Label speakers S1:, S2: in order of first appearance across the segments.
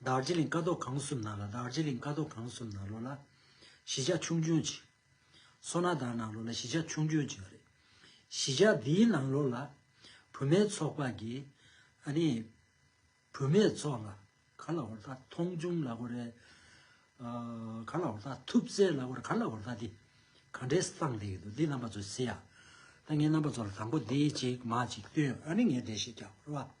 S1: དར་ཅི་ལིང་ཀ་ཏོག་གངས་གསུམ་ན་ལོ་དར་ཅི་ལིང་ཀ་ཏོག་གངས་གསུམ་ན་ལོ་ལ། ཞི་ཆགས་ཆུང་སྐྱོན་ཅི། སོ་ན་དར་ནང་ལོ་ལ་ཞི་ཆགས་ཆུང་སྐྱོན་ཅི་རེད། ཞི་ཆགས་འདིའི་ནང་ལོ་ལ། བུད་མེད་ཚོགས་པ་གི། ཨ་ནི། བུད་མེད་ཚོགས་ལ། ག་ལ་བོར་ད་མཐོང་ཆུང་ལ་གོ་རེད། ཨ། ག་ལ་བོར་ད་ཐུབ་བརྩེ་ལ་གོ་རེད་ག་ལ་བོར་ད་འདི། ག་འདྲའི་སངས་རྒྱས་ཀྱི་འདུག་འདི་རྣམ་པ་ཚོ་སེ་ཡ། ད་ངས་རྣམ་པ་ཚོ་ལ་དང་པོ་འདི་གཅིག་མ་གཅིག་བསྟུན་ཨ་ནི་ངས་འདྲེ་ཞིག་རྒྱག་གོ་རེད་བ།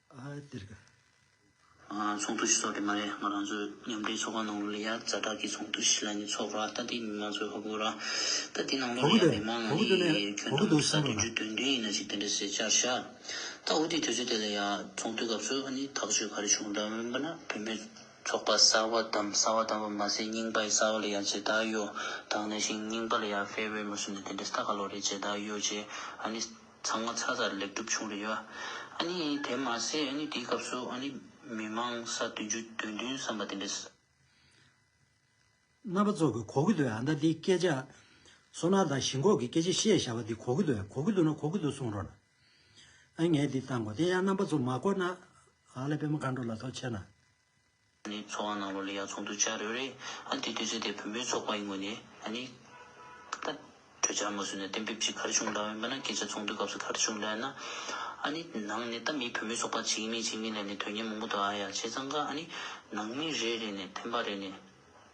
S1: ཚོགས་འདུ་ཞིག་
S2: ཚོགས་ཀྱི་མ་རེད་ང་རང་ཚོའི་མཉམ་འབྲེལ་ཚོགས་པ་ནང་ལ་ཡང་རྫ་དྲག་གི་ཚོགས་འདུ་ཞིག་ལ་ནི་ཚོགས་ར་ལྟ་དེའི་མི་མང་ཚོའི་ཧོ་གུ་ར་ལྟ་དེའི་ནང་ལོགས་ནས་ཡང་མི་མང་ལ་ནི་ཁྱོད་ཐོག་ཏུ་ས་བསྡུ་རྒྱུ་
S1: དོན་མཐུན་ཡིན་
S2: ན་ཅིག་དེ་འདྲ་ཟེར་བྱར་བཞག་ད་འོ་དེའི་དུས་ཚོད་དེ་ལ་ཡང་ཚོགས་འདུའི་སྐབས་སུ་ནི་ཐག་གཅོད་ག་རེ་བྱུང་གདའ་འོན་པ་ན་བོད་མིའི་ཚོགས་པ་གསར་བ་བདམས་གསར་བ་བདམས་པ་མ་ཟད་རྙིང་པའི་གསར་བ་ལ་ཡང་ཇི་ལྟར་ཡོད་དང་ན་ཞིང་རྙིང་པ་ལ་ཡང་ཕེར་བས་མ་སུ་ནི་དེ་འདྲ་ས་ག་ལོགས་རེད་ཇི་ལྟར་ཡོད་ཅེས་ཨ་ནི་ཚང་མ་ཚ་ཚ་ལེགས་གྲུབ་བྱུང་རེད་བ། ཨ་ནི་དེ་མ་ཟད་ཨ་ནི་དེའི་སྐབས་སུ་ཨ་ནི་མི་མང་ས་བདུན་ཅུ་དོན་བདུན་བསམ་པ་དེ་འདྲས།
S1: རྣམ་པ་ཚོ་གི་གོ་གི་འདུག་ཨ་ད་འདི་སྐད་ཆ། སོ་ནག་དང་ཞིན་ཁོག་གི་སྐད་ཆ་བཤད་ཞར་བ་འདི་གོ་གི་འདུག་གོ་གི་འདུག་ན་གོ་གི་འདུག་གསུང་རོགས། ཨ་ངས་འདི་བཏང་གོ་དེ་ཡང་རྣམ་པ་ཚོ་མ་གོ་ན། ཨ་ལས་པད་མ་མཁའ་འགྲོ་ལ་ཐོག་ཆེ་ན། ཨ་ནི་
S2: ཚོགས་ཨ་ནང་ལོ་ལེ་ཡག་ཚོགས་འདུ་བྱ་རེ་རེ། ཨ་དེ་དུས་ཚོད་དེ་བོན་པོའི་ཚོགས་པ་ཡིན་དགོས་ནི། ཨ་ནི། ད། གྲོས་འཆར་མ་བཟོས་ནས་གཏན་འབེབས་ཀྱིས་གར་བྱུང་འདྲ་བས་འབད་ན་སྐད་ཆ་ཚོགས་འདུའི་སྐབས་སུ་གར་བྱུང་འདྲ་ཡིན་ན། ཨ་ནི། ནང་ནས་ད་མིའི་བོན་པོའི་ཚོགས་པ་བྱེད་ཀྱི་མིན་བྱེད་ཀྱི་མིན་ལས་ནི་དོན་གཉེར་མང་པོ་འདུག་ཨ་ཡ་བྱས་ཙང་ཀ་ཨ་ནི། ནང་མི་རེ་རེ་ནས་འཐེན་པ་རེ་ནས།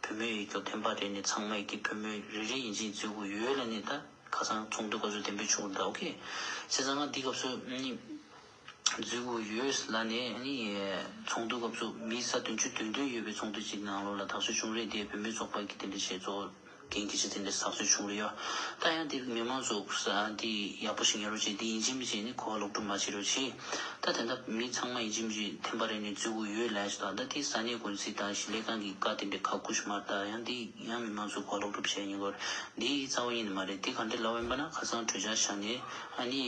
S2: བུ་མོའི་ཡིག་ཐོག་ཐོན་པ་རེད་ནི་ཚང་མ་ཡིག་གི་བུ་མོ་རེ་རེ་ཡིན་ཅིང་བརྫུས་གོ་ཡོད་ལ་ནི་ད་ཁ་སང་ཚོགས་འདུ་ག་ཚོད་དེ་འབུད་ཆོག་གི་འདྲ་ཨོ་ཁེ། སེ་ཚང་མ་འདི་སྐབས་སུ་ནི་བརྫུས་གོ་ཡོད་ལ་ནི་ནི་ཚོགས་འདུ་སྐབས་སུ་མི་ས་བདུན་ཅུ་དོན་བདུན་ཡོད་པའི་ཚོགས་འདུ་གཅིག་ནང་ལོ་ལ་དྭགས་ཆུ་ཆུང་རེད་དེ་བུ་མོའི་ཚོགས་པ་གི་དེ་འདྲ་བྱས་ཚོགས། གན་རྒྱ་ཆེ་དེ་འདྲའི་ཟག་ཚུལ་བྱུང་གི་ཡོད། ད་ཡང་དེ་མི་མང་ཚོགས་འདི་ཡག་པོ་ཞིག་ཉོ་རོགས་བྱེད་དེ་ཡིན་ཅིན་མི་བྱེད་ནི་གོ་བ་ལོག་སྒྲུབ་མ་བྱེད་རོགས་བྱེད། ད་དེ་འདྲ་མི་ཚང་མ་ཡིན་ཅིན་མི་བྱེད་ཐེངས་པ་རེ་ནས་བརྫུས་གོ་ཡོད་ལས་ཟླ་ད་དེ་ས་གནས་དགོན་སྲིད་དང་གཞིས་ལས་ཁང་གི་བཀའ་དེ་འདྲའི་ཁ་བསྐུ་ཞུ་མར་ད་ཡང་དེ་ཡང་མི་མང་ཚོགས་གོ་བ་ལོག་སྒྲུབ་བྱེད་ཡིན་སྐོར་འདི་རྩ་བ་ཡིན་ནི་མ་རེད་དེ་ག་འདྲའི་ལབ་ཡིན་པ་ན་ཁ་སང་གྲོས་འཆར་བཞག་ནས་ཨ་ནི་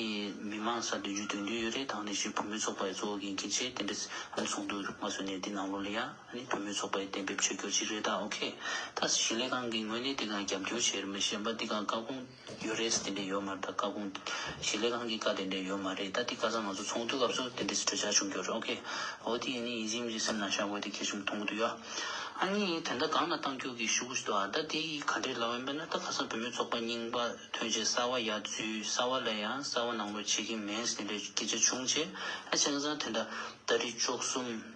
S2: མི་མང་ས་འདོན་རྒྱུ་འདོན་རྒྱུ་ཡོད་རེད་ད་ནས་བཞིན་བུ་མོའི་ཚོགས་པ་ཡི་གཙོ་བོ་གན་རྒྱ་ཆེ་དེ་འདྲ་ཟུག་འདུག་མ་བཟོ་ནས་འདི་ནང་ལོགས་ལ་ཡག། ནི་བུད་མེད་ཚོགས་པའི་གཏན་འབེབས་བཅོས་སྒྱུར་ཅིག་རེད་ད་ཨོ་ཁེ། ད་ཞིང་ལས་ཁང་གིས་ངོས་ནས་དེ་གང་རྒྱབ་སྐྱོར་བྱེད་མི་ཤེས་པ་འདི་གང་བཀའ་དགོངས་ཡོད་རེད་ཟེར་དེ་འདྲས་ཡོད་མ་རེད་ད་བཀའ་དགོངས་ཞིང་ལས་ཁང་གི་བཀའ་དེ་འདྲས་ཡོད་མ་རེད་ད་དེ་བཀའ་ཚང་ང་ཚོ་ཚོགས་འདུའི་སྐབས་སུ་དེ་འདྲས་གྲོས་འཆར་བྱུང་རྒྱུ་རེད་ཨོ་ཁེ། ཨོ་དེ་ཡིན་ནི་ཡིན་གཅིག་མིན་གཅིག་སེམས་ནང་བཞག་དགོས་དེ་གལ་ཆེན་པོ་མཐོང་གི་འདུག་ཡ། ཨ་ནི་དེ་འདྲ་གང་ལ་བཏང་རྒྱུ་གི་ཤུ་གུ་ཞིག་འདུག་ཨ་ད་དེ་ཡིས་ག་འདྲས་ལབ་ཨེ་འདོད་ན་ད་ཁ་སང་བུད་མེད་ཚོགས་པ་རྙིང་པ་ཐོན་རྗེས་གསར་བ་ཡག་བརྫུས་གསར་བ་ལས་ཡང་གསར་བ་ནང་ལོག་བྱེད་ཀྱི་མེད་ཟེར་དེ་འདྲས་སྐད་ཆ་བྱུང་རྗེས་ཨ་ཆེ་ཁ་སང་དེ་འདྲ་ད་རི་ཅོག་གསུམ།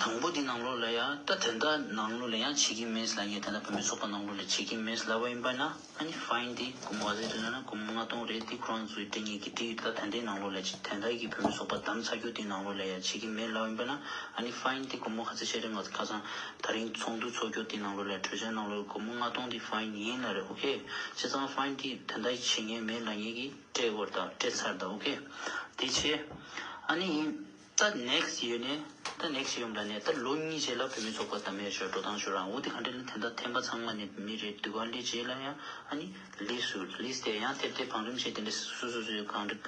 S2: དང་པོ་དེ་ནང་ལོགས་ལ་ཡང་ད་དེ་འདྲ་ནང་ལོགས་ལ་ཡང་བྱེད་ཀྱིན་མེད་ལ་ངས་དེ་འདྲ་བོད་མི་ཚོགས་པ་ནང་ལོགས་ལ་བྱེད་ཀྱིན་མེད་ལབ་བ་ཡིན་པ་ན་ཨ་ནི Fine དེ་གོམ་ག་ཚད་དུ་ན་ན་གོམ་ལྔ་སྟོང་རེད་དེ་ཁོ་རང་ཚོའི་སྐད་ངས་ཀྱིས་བྲིས་ཡོད་ད་དེ་འདྲའི་ནང་ལོགས་ལ་བྱེད་དེ་འདྲ་གི་བོད་མི་ཚོགས་པ་བདམས་ཚར་རྒྱུ་དེ་ནང་ལོགས་ལ་ཡང་བྱེད་ཀྱིན་མེད་ལབ་བ་ཡིན་པ་ན་ཨ་ནི Fine དེ་གོམ་ག་ཚད་ཤ་རེ་ང་ཚོ་ཁ་སང་ད་རིང་ཚོགས་འདུ་ཚོགས་རྒྱུ་དེ་ནང་ལོགས་ལ་གྲོས་འཆར་ནང་ལོགས་ཀྱི་གོམ་ལྔ་སྟོང་དེ Fine ཡིན་ལ་རེད okay བྱས་ཙང Fine དེ་དེ་འདྲ་བྱེད་ངས་མེད་ལ་ངས་ཀྱིས་སྤྲད་འོར་ད་སྤྲད་ཚར་ད okay དེ་བྱས་ཨ་ནི་ཡིན། ད next year ནས་ད next year ཡོང་གྲ་ནས་ད་ལོ་གཉིས་རྗེས་ལ་བོད་མི་ཚོགས་པ་དམ་མེར་ཤོར་འགྲོ་སྟངས་ཤོར་རང་འུ་དེ་ག་འདྲ་ལ་དེ་འདྲ་འཐེན་པ་ཚང་མ་ནི་མི་རེད་འདུག་ག་འདྲའི་རྗེས་ལ་ཡང་ཨ་ནི་ལི་སུ་ལི་ཟེར་ཡང་ཐེབས་ཐེབས་བང་རིམ་བྱེད་དེ་འདྲ་སུ་སུ་སུ་གང་འདྲ་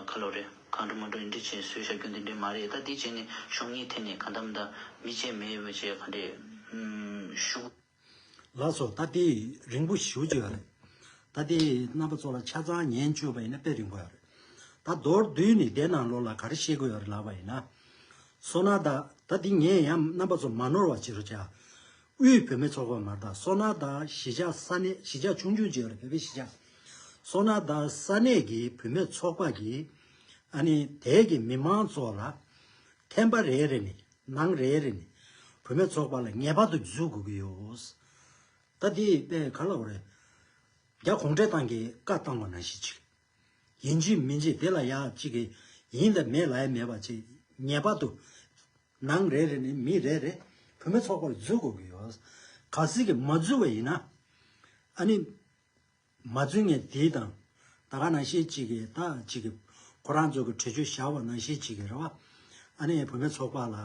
S2: ཁ་ལོ་རེད་གང་འདྲ་མ་འདྲ་འདྲ་བྱེད་སུས་བྱ་རྒྱུ་འདི་འདྲ་མ་རེད་ད་འདི་བྱས་ནས་གཞུང་གཉིས་ཐད་ནས་ག་འདམ་ད་མི་བྱེད་མེད་བྱེད་ག་འདྲས་ཤུགས། ལགས་
S1: སོ། ད་ལྟའི་རིང་པོ་ཞུ་བཅུག་ཡོད་རེད། ད་ལྟའི་རྣམ་པ་ཚོ་ལ་ཆ་ཚང་ཉན་བཅུག་པ་ཡིན་ན་དཔེ་རིང་པོ་ཡོད་རེད། ད་མདོར་བསྡུས་ནས་བསྡད་ན་ལོ་ལ་ག་རེ་བཤད་དགོས་ཡོད་རེད་ལབ་པ་ཡིན་ན། སོ་ན་དག་ད་དེ་ངས་ཡང་རྣམ་པ་ཚོ་མ་ནོར་བ་བྱེད་རོགས་བྱ། དབུས་བོད་མི་ཚོགས་པ་མ་དག་སོ་ན་དག་གཞིས་ཆགས་ས་གནས་གཞིས་ཆགས་ཆུང་ཆུང་བྱེད་ཡོད་རེད་བོད་པའི་གཞིས་ཆགས། སོ་ན་དག་ས་གནས་ཀྱི་བུད་མེད་ཚོགས་པ་གིས་ཨ་ནི་དལ་གྱི་མི་མང་ཚོགས་ལ་ཐན་པ་རེ་རེ་ནས་ནང་རེ་རེ་ནས་བུད་མེད་ཚོགས་པ་ལ་ངེས་པར་དུ་འཇུག་དགོས་ཀྱི་ཡོད། ད་དེ་དཔེ་ག་ལ་རེད། རྒྱ་གུང་ཁྲན་ཏང་གིས་བཀའ་བཏང་བ་ན་ཞིག་ཅིག་ཡིན་ཅིག་མིན་ཅིག་དེ་ལ་ཡག་ཅིག་གི་ཡིན་དང་མེད་ལ་ཡ་མེད་པ་ཅིག་ངེས་པར་དུ་ནང་རེ་རེ་ནས་མི་རེ་རེ་བུད་མེད་ཚོགས་པ་ལ་འཇུག་དགོས་ཀྱི་ཡོད། ག་ཟིག་གིས་མ་འཇུག་བ་ཡིན་ན་ཨ་ནི། མ་རྫུན་ངས་དེའི་དང། ད་ག་ན་ཤེས་གཅིག་གི་ད་གཅིག་གི། ཁོ་རང་ཚོ་གི་གྲོས་ཆོད་བཞག་པ་ན་ཤེས་གཅིག་གི་རེད་བ། ཨ་ནི་བུ་མེད་ཚོགས་པ་ལ།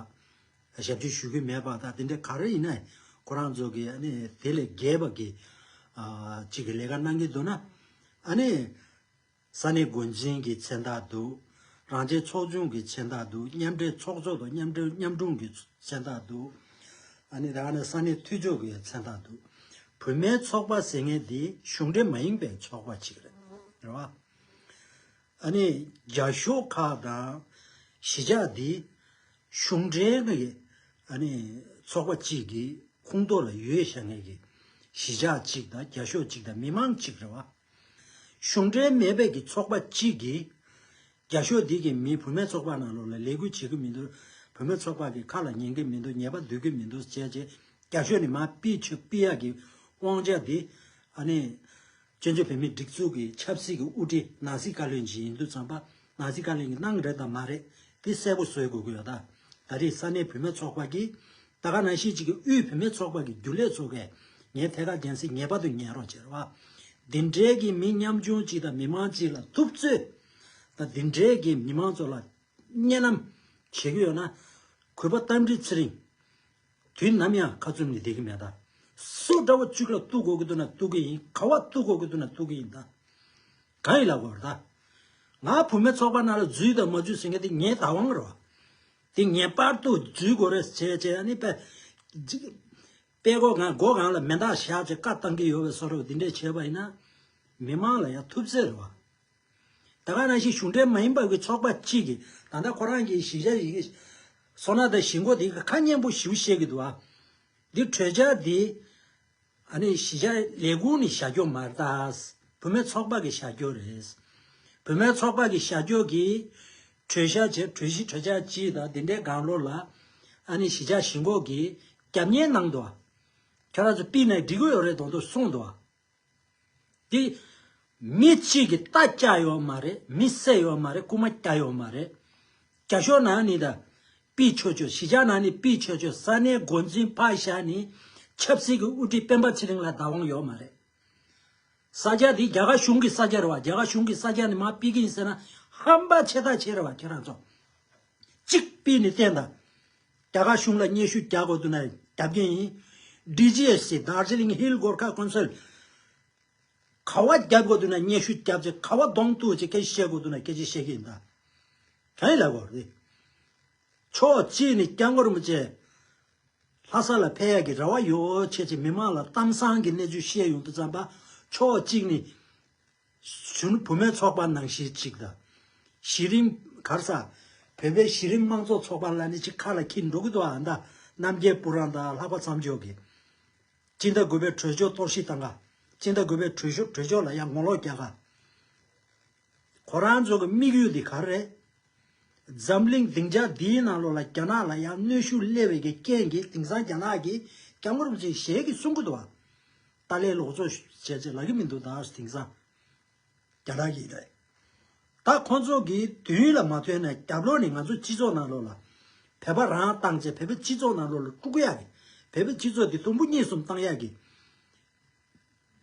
S1: ཞབས་ཕྱི་ཞུ་གི་མེད་པ་ད་དེ་འདྲ་ག་རེ་ཡིན་ན། ཁོ་རང་ཚོ་གི་ཨ་ནི་དེ་ལས་རྒྱལ་བ་གི། ཨ་གཅིག་གི་ལས་ཀ་གནང་གི་འདུག་ན། ཨ་ནི། ས་གནས་དགོན་ཆེན་གྱི་མཚན་རྟགས་འདུག། རང་རྒྱལ་ཚོགས་ཆུང་གི་མཚན་རྟགས་འདུག་མཉམ་འབྲེལ་ཚོགས་གཙོ་དང་མཉམ་འབྲེལ་མཉམ་སྐྲུན་གྱི་མཚན་རྟགས་འདུག། ཨ་ནི་ད་ག་ནས་ས་གནས་འཐུས་ཆོས་གྱི་མཚན་རྟགས་འདུག། བུད་མེད་ཚོགས་པ་ཟེར་མཁན་དེ་གཞུང་འབྲེལ་མ་ཡིན་པའི་ཚོགས་པ་ཅིག་རེད། རེད་བ། ཨ་ནི་རྒྱ་ཤོག་ཁག་དང་གཞིས་ཆགས་འདི་གཞུང་འབྲེལ་གྱི་ཨ་ནི་ཚོགས་པ་ཅིག་གི་ཁུངས་གཏོགས་ལ་ཡོད་བཤད་མཁན་གྱི་གཞིས་ཆགས་ཅིག་དང་རྒྱ་ཤོག་ཅིག་དང་མི་མང་ཅིག་རེད་བ། གཞུང་འབྲེལ་མེད་པའི་གི་ཚོགས་པ་གཅིག་གིས། རྒྱ་ཤོག་འདི་གིས་མི་བུད་མེད་ཚོགས་པ་ནང་ལོགས་ལ་ལས་འགུལ་བྱེད་ཀི་མི་འདུག་བུད་མེད་ཚོགས་པ་གི་ཁ་ལ་ཉན་གི་མི་འདུག་ཉེས་པ་འདོད་གི་མི་འདུག་བྱས་རྗེས་རྒྱ་ཤོག་ནི་མ་པི་ཆུ་པི་ཡ་གི་དབང་ཆ་དེ། ཨ་ནི། བཙན་བྱོལ་བོད་མིའི་སྒྲིག་འཛུགས་ཀི་ཆབ་སྲིད་ཀི་དབུ་ཁྲིད་ནང་སྲིད་བཀའ་བློན་གྱི་ཡིན་དུས་ཙམ་པ་ནང་སྲིད་བཀའ་བློན་གི་གནང་རེད་དང་མ་རེད་དེ་གསལ་པོ་བཟོས་དགོས་ཀི་ཡོད་ད་རེས་ས་གནས་བུད་མེད་ཚོགས་པ་གིས་ད་ག་ནང་ཤེས་ཅིག་གི་དབུས་བུད་མེད་ཚོགས་པ་གི་རྒྱུ་ལས་ཚོ་གས་ངའི་ཐད་ཀར་རྒྱན་སྲིད་ངེས་པར་དུ་ཉན་རོགས་བྱེད་རོགས། འདི་འདྲའི་གི་མི་ཉམ་ཆུང་ཅིག་དང་མི་མང་ཅིག་ལ་ཐུབ་ཚོད་དང་འདི་འདྲའི་གི་མི་མང་ཚོ་ལ་བརྙན་ནམ་བྱེད་གི་ཡོད་ན་གུས་པ་རྟ་མགྲིན་ཚེ་རིང་དུས་ནམ་ཡང་ཁ་ཙུམ་ནི་བསྡད་གི་མེད་ད། སུ་འདྲ་བོ་ཅིག་ལ་གཏུག་དགོས་གི་འདུག་ན་གཏུག་གི་ཡིན་ག་བ་གཏུག་དགོས་གི་འདུག་ན་གཏུག་གི་ཡིན་ད། གང་ཡིན་ལ་གོ་རོགས་ད། ང་བུད་མེད་ཚོགས་པ་ནང་ལ་འཛུལ་དང་མ་འཛུལ་ཟེར་མཁན་དེ་ངའི་བདག་དབང་རོགས། དེ་ངེས་པར་དུ་འཛུལ་དགོས་རེད་ཅེས་ཀྱི་ནི་པས། པས་སྒོ་གང་སྒོ་གང་ལ་མེ་མདག་བཞག་ཅེས་བཀའ་བཏང་གི་ཡོད་པས་སོ་རོག་དེ་འདྲས་བྱས་པ་ཡིན་ན། མི་མང་ལ་ཡང་ཐུབ་ཚད་རེད་བ། ད་ག་རང་བཞིན་གཞུང་འབྲེལ་མ་ཡིན་པ་གི་ཚོགས་པ་གཅིག་གིས་ད་ལྟ་ཁོ་རང་གི་གཞི་བཞག་ཡི་གེ། སོ་ན་དང་གཞི་འགོ་དེ་གི་ཁ་སྙན་པོ་ཞིག་བཤད་གི་འདུག་བ། འདི་གྲོས་འཆར་འདི། ཨ་ནི་བཞི་ཆ་ལས་དགུ་ནི་བྱ་སྐྱོ་མར་བཏགས། བུ་མོའི་ཚོགས་དཔག་གི་བྱ་སྐྱོ་རེད། བུ་མོའི་ཚོགས་དཔག་གི་བྱ་སྐྱོ་གི། གྲོས་བྱ་བྱས་གྲོས་བཞི་གྲོས་བྱ་གཅིག་དང་དེ་འདྲའི་སྒང་ལོ་ལ། ཨ་ནི་བཞི་ཆ་བཞི་འགོག་གི་རྒྱབ་གཉེར་གནང་འདུག། ཁྱོད་རང་ཚོ་པི་ནའི་སྒྲིག་གོས་ཡོ་རེ་དང་དུ་སོང་འདུག། དེ། མི་གཅིག་གི་རྟ་བསྐྱ་ཡོད་མ་རེད་མི་བསད་ཡོད་མ་རེད་རྐུ་མ་བསྐྱ་ཡོད་མ་རེད། རྒྱ་ཤོག་ནང་ནི་ད། པི་ཆོས་ཆོས་གཞིས་ཆགས་ནང་ནི་པི་ཆོས་ཆོས་ས་གནས་མགོ་འཛིན་ཕ་ཞྭ་ནི། ཆབ་སྲིད་ཀྱི་དབུ་ཁྲིད་སྤེན་པ་ཚེ་རིང་ལ་བདག་དབང་ཡོད་མ་རེད། ས་སྐྱ་དེ་རྒྱ་གར་གཞུང་གི་ས་སྐྱ་རེད་བ་རྒྱ་གར་གཞུང་གི་ས་སྐྱ་ནི་མ་པི་གིན་ཟེར་ན་ཧམ་པ་ཆེ་ཐག་ཆེ་རེད་བ་ཁྱེད་རང་ཚོ། གཅིག་པི་ནི་བསྟན་ད། རྒྱ་གར་གཞུང་ལ་སྙན་ཞུ་རྒྱག་དགོས་དོན་ན་རྒྱབ་རྒན་ཡིན། DGSC Darjeeling Hill Gorkha Council། ཁ་བ་རྒྱབ་དགོས་དོན་ན་སྙན་ཞུ་རྒྱབ་ཅིག་ཁ་བ་གདོང་གཏུག་ཅིག་སྐད་ཆ་བཤད་དགོས་དོན་ན་སྐད་ཆ་བཤད་ཀྱི་ཡིན། ད་ཡིན་ལབ་དགོས་རེད། ཕྱོགས་གཅིག་ནས་སྐྱབས་མགོན་རིན་པོ་ཆེ་ལྷ་ས་ལ་ཕེབས་ཡག་གི་རེ་བ་ཡོད་ཆེ་ཆེ་མི་མང་ལ་གཏམ་བཟང་གི་གནས་ཚུལ་བཤད་ཡོང་དུ་བརྩམས་པ། ཕྱོགས་གཅིག་ནས། གཞོན་བུ་མོའི་ཚོགས་པ་ནང་གཞི་གཅིག་དང། གཞི་རིམ། གར་ས། བོད་པའི་གཞི་རིམ་དམངས་གཙོ་ཚོགས་པ་ལ་ནི་ཅི་ཁ་ལ་འཁྱིལ་འགྲོ་གི་འདུག་ཨ་མདའ་རྣམ་རྒྱལ་སྤུ་རངས་དང་ལྷག་པ་མཚམས་འཇོག་གིས། སྤྱི་ཟླ་དགུ་པའི་གྲོས་ཆོད་གཏོར་བཤིག་བཏང་ག། སྤྱི་ཟླ་དགུ་པའི་གྲོས་གྲོས་ཆོད་ལ་ཡང་ངོ་ལོག་རྒྱག་ག། ཁོ་རང་ཚོ་གི་དམིགས་ཡུལ་འདི་ག་རེད། འཛམ་གླིང་སྡིངས་ཆ་འདིའི་ནང་ལོགས་ལ་རྒྱ་ནག་ལ་ཡང་གནོད་ཤུགས་སླེབས་འོས་ཀྱི་རྐྱེན་གྱིས་དེང་སང་རྒྱ་ནག་གིས་རྒྱ་དམར་བ་ཚོས་ཞལ་གྱིས་གསུང་གི་འདུག་ཨ། ཏཱ་ལའི་ལོག་འཚོ་བྱས་རྗེས་ལག་གི་མི་འདུག་དྭངས་དེང་སང་རྒྱ་ནག་གི་རེད། ད་ཁོང་ཚོ་གི་དུས་ལ་མ་ཐོན་ན་རྒྱབ་ལོག་ནས་ང་ཚོ་སྤྱི་ཚོགས་ནང་ལོག་ལ། བོད་པ་རང་བཏང་རྗེས་བོད་པའི་སྤྱི་ཚོགས་ནང་ལོག་ལ་དཀྲུག་གཡག་གི། བོད་པའི་སྤྱི་ཚོགས་དེ་དུམ་བུ་གཉིས་གསུམ་བཏང་གཡག་གི།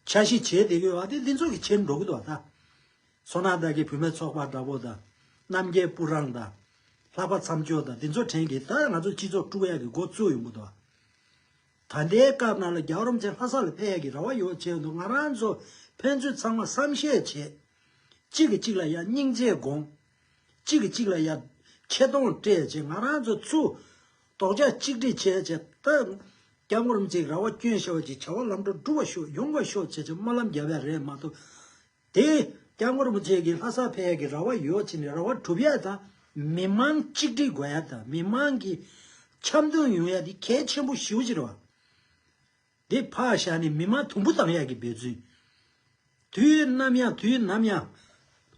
S1: ཆ་ཤས་བྱས་བསྡད་གི་བ་དེ་ལྷན་ཚོགས་ཀྱི་ཆེད་འགྲོ་གི་འདུག་བ་ད། སོ་ནག་དག་གི་བུད་མེད་ཚོགས་པ་འདྲ་པོ་དང། རྣམ་རྒྱལ་སྤུ་རངས་དང། ལྷག་པ་མཚམས་སྦྱོར་དང་འདི་ཚོ་དྲན་གི་ད་ང་ཚོ་སྤྱི་ཚོགས་དཀྲུག་གཡག་གི་འགོ་བཙུགས་ཡོང་གི་འདུག་བ། ད་ལྟའི་སྐབས་ནང་ལ་རྒྱ་རོམ་ཚེ་ལྷ་ས་ལ་ཕེབས་ཡ་གི་ར་བ་ཡོད་བྱས་འདུག་ང་རང་ཚོ་ཕན་ཚུན་ཚང་མ་བསམ་བཤད་བྱེད། གཅིག་གི་གཅིག་ལ་ཡ་སྙིང་རྗེ་དགོངས། གཅིག་གི་གཅིག་ལ་ཡ། ཁྱེད་གདོང་སྤྲད་བྱས་ང་རང་ཚོ་ཚུ། དོག་ཆ་གཅིག་སྒྲིག་བྱས་བྱས། ད་རྒྱ་རོམ་ཚེ་ར་བ་སྐྱོན་ཤོག་ཅིག་བྱ་བ་ལམ་འགྲོ་འགྲུ་བ་ཤོག་ཡོང་བ་ཤོག་བྱས་བྱས་སྨོན་ལམ་རྒྱ་བས་རེད་མ་གཏོགས། དེ་སྐྱབས་མགོན་རིན་པོ་ཆེ་གིས་ལྷ་ས་བལ་ཡག་གི་ར་བ་ཡོ་བྱི་ནས་ར་བ་གྲུབ་ཡ་དང་མི་དམངས་གཅིག་སྒྲིལ་དགོས་ཡ་དང་མི་དམངས་ཀྱི་འཆམ་མཐུན་ཡོང་ཡ་དེ་གལ་ཆེན་པོ་ཞིའོ་ཅིར་བ། དེ་ཕག་བཞག་ནས་མི་དམངས་དུམ་བུ་བཏང་ཡ་གི་འབད་བརྩོན། དུས་ནམ་ཡང་དུས་ནམ་ཡང།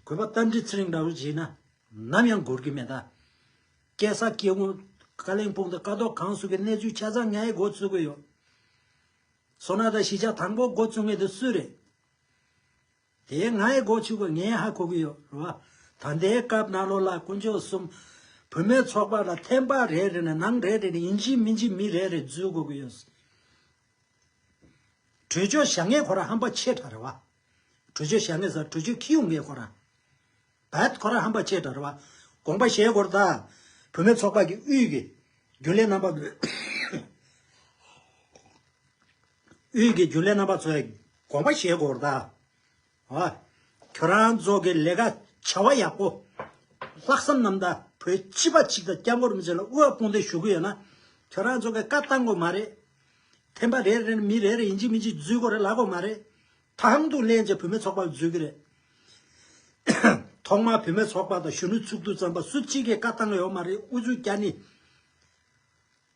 S1: གོས་པ་རྟ་མགྲིན་ཚེ་རིང་འདྲ་བོ་བྱས་ན་ནམ་ཡང་འགོར་གི་མེད་ད། སྐད་ས་སྐད་ངོ། གླེང་སྤོང་དང་ཀ་ཏོག་གང་བསུ་གི་གནས་ཚུལ་ཆ་ཚང་ངའི་མགོ་བཙུགས་གི་ཡོད། སོ་ན་ད་གཞིས་ཆགས་དང་པོ་མགོ་བཙུགས་ངེས་དེ་སུས་རེད། དེས་ང་ཡི་སྒོ་ཕྱུག་པོ་ངས་ཧ་གོ་གི་ཡོད་རེད་བ། ད་ལྟའི་སྐབས་ནཱ་ལོ་ལ་དཀོན་མཆོག་གསུམ། བུད་མེད་ཚོགས་པ་ལ་ཐེམ་པ་རེ་རེ་ནས་ནང་རེ་རེ་ནས་ཡིན་གཅིག་མིན་གཅིག་མི་རེ་རེ་འཛུལ་དགོས་ཀྱི་ཡོད། གྲོས་ཆོད་བཞག་མཁན་ཁོ་རང་ཧམ་པ་ཆེ་དྲགས་རེད་བ། གྲོས་ཆོད་བཞག་མཁན་ཟེར་གྲོས་ཆོད་ཁྱི་ཡུག་མཁན་ཁོ་རང། བད་ཁོ་རང་ཧམ་པ་ཆེ་དྲགས་རེད་བ། དགོངས་པ་བཞེས་སྐོར་དང། བུད་མེད་ཚོགས་པ་གི་དབུས་ཀྱི་རྒྱུན་ལས་རྣམ་པ། དབུས་ཀྱི་རྒྱུ་ལས་རྣམ་པ་ཚོའི་དགོངས་པ་བཞེས་སྐོར་དང། ཁྱོད་རང་ཚོ་གི་ལས་ཀ་བྱ་བ་ཡག་པོ། ལྷག་བསམ་རྣམ་དག་བོད་སྤྱི་པ་གཅིག་དང་སྐྱབས་མགོན་རིན་པོ་ཆེ་ལ་དབུ་བ་དཔུང་སྡེ་ཞུ་གི་ཡོད་ན། ཁྱོད་རང་ཚོ་གི་བཀའ་བཏང་དགོས་མ་རེད། ཐེམ་པ་རེ་རེ་ནས་མི་རེ་རེ་ཡིན་གཅིག་མིན་གཅིག་འཛུལ་དགོས་རེད་ལབ་དགོས་མ་རེད། དང་དུ་ལེན་བྱེད་བུད་མེད་ཚོགས་པ་ལ་འཛུལ་གི་རེད། ཐོག་མར་བུད་མེད་ཚོགས་པ་དང་གཞོན་ནུ་ཚུགས་འདུག་བརྩམས་པ་སུ་གཅིག་གིས་བཀའ་བཏང་ཡོད་མ་རེད་དབུ་ཚུགས་བསྐྱར་ནི།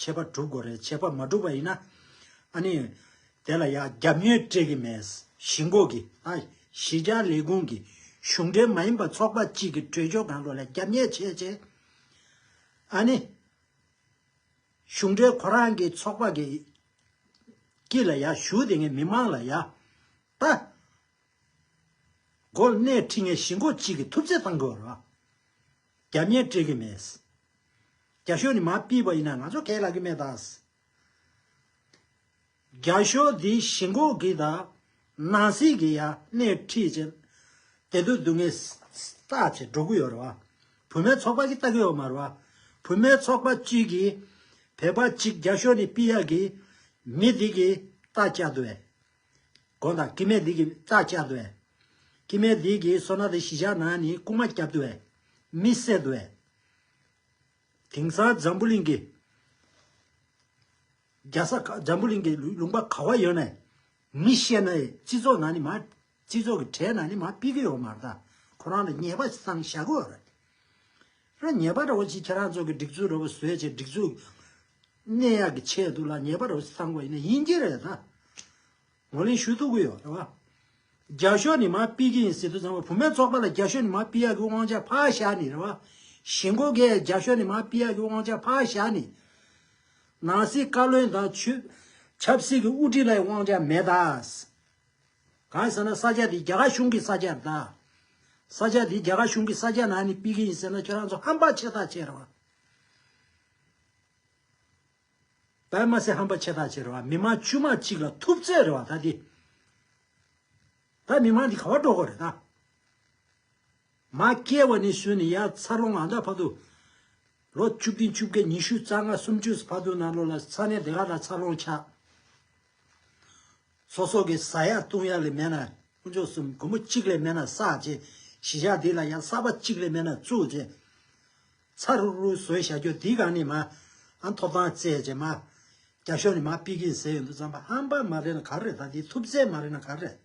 S1: ཆད་པ་གྲུབ་དགོས་རེད་ཆད་པ་མ་གྲུབ་པ་ཡིན་ན་ཨ་ནི། དེ་ལ་ཡ་རྒྱབ་ཉོས་སྤྲད་གི་མེད། གཞིས་འགོ་གི་ཨ་གཞིས་ཆགས་ལས་ཁུངས་ཀྱི་གཞུང་འབྲེལ་མ་ཡིན་པ་ཚོགས་པ་གཅིག་གི་གྲོས་ཆོད་གང་རུང་ལ་རྒྱབ་ཉེས་བྱས་རྗེས། ཨ་ནི། གཞུང་འབྲེལ་ཁོ་རང་གི་ཚོགས་པ་གི་དཀྱིལ་ལ་ཡ་ཞུ་དེ་ངས་མི་མང་ལ་ཡ། ད། གོ་གནས་ཁྲི་ངས་གཞིས་འགོ་གཅིག་གི་ཐུབ་ཚད་བཏང་དགོས་རེད། རྒྱ་མིའི་སྤྲད་གི་མེད། རྒྱ་ཤོ་ནི་མ་སྤིས་པ་ཡིན་ན་ང་ཚོ་གས་ལ་གི་མེད་ད། རྒྱ་ཤོ་དེ་ཞི་འགོག་གི་ད། ནང་སྲིད་གི་ཡ་སྣེ་ཁྲིད་ཅན། དེ་ཚོ་སྡུག་བསྔལ་ས་ཆེ་འགྲོ་གི་ཡོད་རེད་བ། བུད་མེད་ཚོགས་པ་གི་ལྟ་གི་ཡོད་མ་རེད་བ། བུད་མེད་ཚོགས་པ་གཅིག་གི། བོད་པ་གཅིག་རྒྱ་ཤོ་ནི་སྤི་ཡ་གི། མི་དེ་གི་ལྟ་བཅའ་དུ་བས། དགོངས་དག་ཀྱེ་མའི་ལུས་ཀྱི་རྩ་བཅད་དུ་བས། ཀྱེ་མའི་ལུས་ཀྱི་སོ་ནག་དེ་ཞི་བྱ་ན་ནི་རྐུན་མ་བསྐྱབ་དུ་བས། མི་བསད་དུ་བས། དེང་སང་འཛམ་བུ་གླིང་གི། རྒྱལ་ས་འཛམ་བུ་གླིང་གི་ལུང་པ་ག་བ་ཡོད་ནས། མི་ཤེས་ན་ཡི་སྤྱི་ཚོགས་ན་ནི་མ། སྤྱི་ཚོགས་ཀྱི་གྲས་ན་ནི་མ་དཔེ་གི་ཡོ་མ་རྟ་ཁོ་རང་ལ་ཉེས་པ་སང་བྱ་གོ། ར་ཉེས་པ་འདྲ་བོ་ཅི་ཁྱེད་རང་ཚོ་གི་སྒྲིག་འཛུགས་འདྲ་བོ་བཟོས་བྱས་སྒྲིག་འཛུགས། གནས་ཡག་གི་ཆེད་དུ་ལ་ཉེས་པར་བསམ་བ་ཡིན་ཡིན་གྱི་རེད་ད། ངོ་ལེན་ཞུ་ཐུབ་གི་ཡོད་རེད་བ། རྒྱ་ཤོག་ནི་མ་སྤི་གི་ཡིན་སྲིད་དུ་ཚང་བ་བུ་མེད་ཚོགས་པ་ལ་རྒྱ་ཤོག་ནི་མ་སྤི་ཡག་གི་དབང་ཆ་ཕ་ཞག་ནི་རེད་བ། གཞི་མགོ་གས་རྒྱ་ཤོག་ནི་མ་སྤི་ཡག་གི་དབང་ཆ་ཕ་ཞག་ནི། ནང་སྲིད་བཀའ་བློན་དང་ཆུས། ཆབ་སྲིད་ཀྱི་དབུ་ཁྲིད་ལ་ཡི་དབང་ཆ་མེད་ད། གང་ཡིན་ཟེར་ན་ས་ཆ་དེ་རྒྱ་གར་གཞུང་གི་ས་ཆ་རེད་ད། ས་ཆ་དེ་རྒྱ་གར་གཞུང་གི་ས་ཆ་ནང་ནི་སྤི་གི་ཡིན་ཟེར་ན་ཁྱོད་རང་ཚོ་ཧམ་པ་ཆེ་ཐག་ཆད་རེད་བ། པདྨ་སེ་ཧམ་པ་ཆེ་ཐག་ཆེ་རེད་བ་མི་མང་ཆུ་མ་གཅིག་ལ་ཐུབ་ཚད་རེད་བ་ད་འདི། ད་མི་མང་འདི་ག་བ་འགྲོ་གོ་རེད་ད། མ་སྐྱེས་བ་ནས་སུན་ནས་ཡ་ཚ་ལོ་ང་ད་ཕ་དུ། ལོ་བཅུ་བདུན་བཅུ་བརྒྱད་ཉི་ཤུ་རྩ་ལྔ་སུམ་ཅུ་ཕ་དུ་ན་ལོ་ལ་ཚ་ནས་དེ་ག་ད་ཚ་ལོང་ཆགས། སོ་སོ་གི་ཟ་ཡག་བཏུང་ཡག་ལས་མེད་ན་དཀོན་མཆོག་གསུམ་མགོན་པོ་གཅིག་ལས་མེད་ན་བསགས་བྱེད་གཞི་བཞག་འདི་ལ་ཡ་གསར་པ་གཅིག་ལས་མེད་ན་བཙུགས་བྱེད། ཚ་རུག་རུག་བཟོས་བཞག་རྒྱུ་འདི་གང་ནས་མ། ཨ་ཐོབ་ཐང་བརྩད་བྱས་མ། རྒྱ་ཤོག་ནས་མ་པི་གིན་ཟེར་ཡོད་འདུག་རྩམ་པ་ཧམ་པ་མ་རེད་ན་ག་རེད་ད་འདི་ཐུབ་རྩལ་མ་རེད་ན་ག་རེད།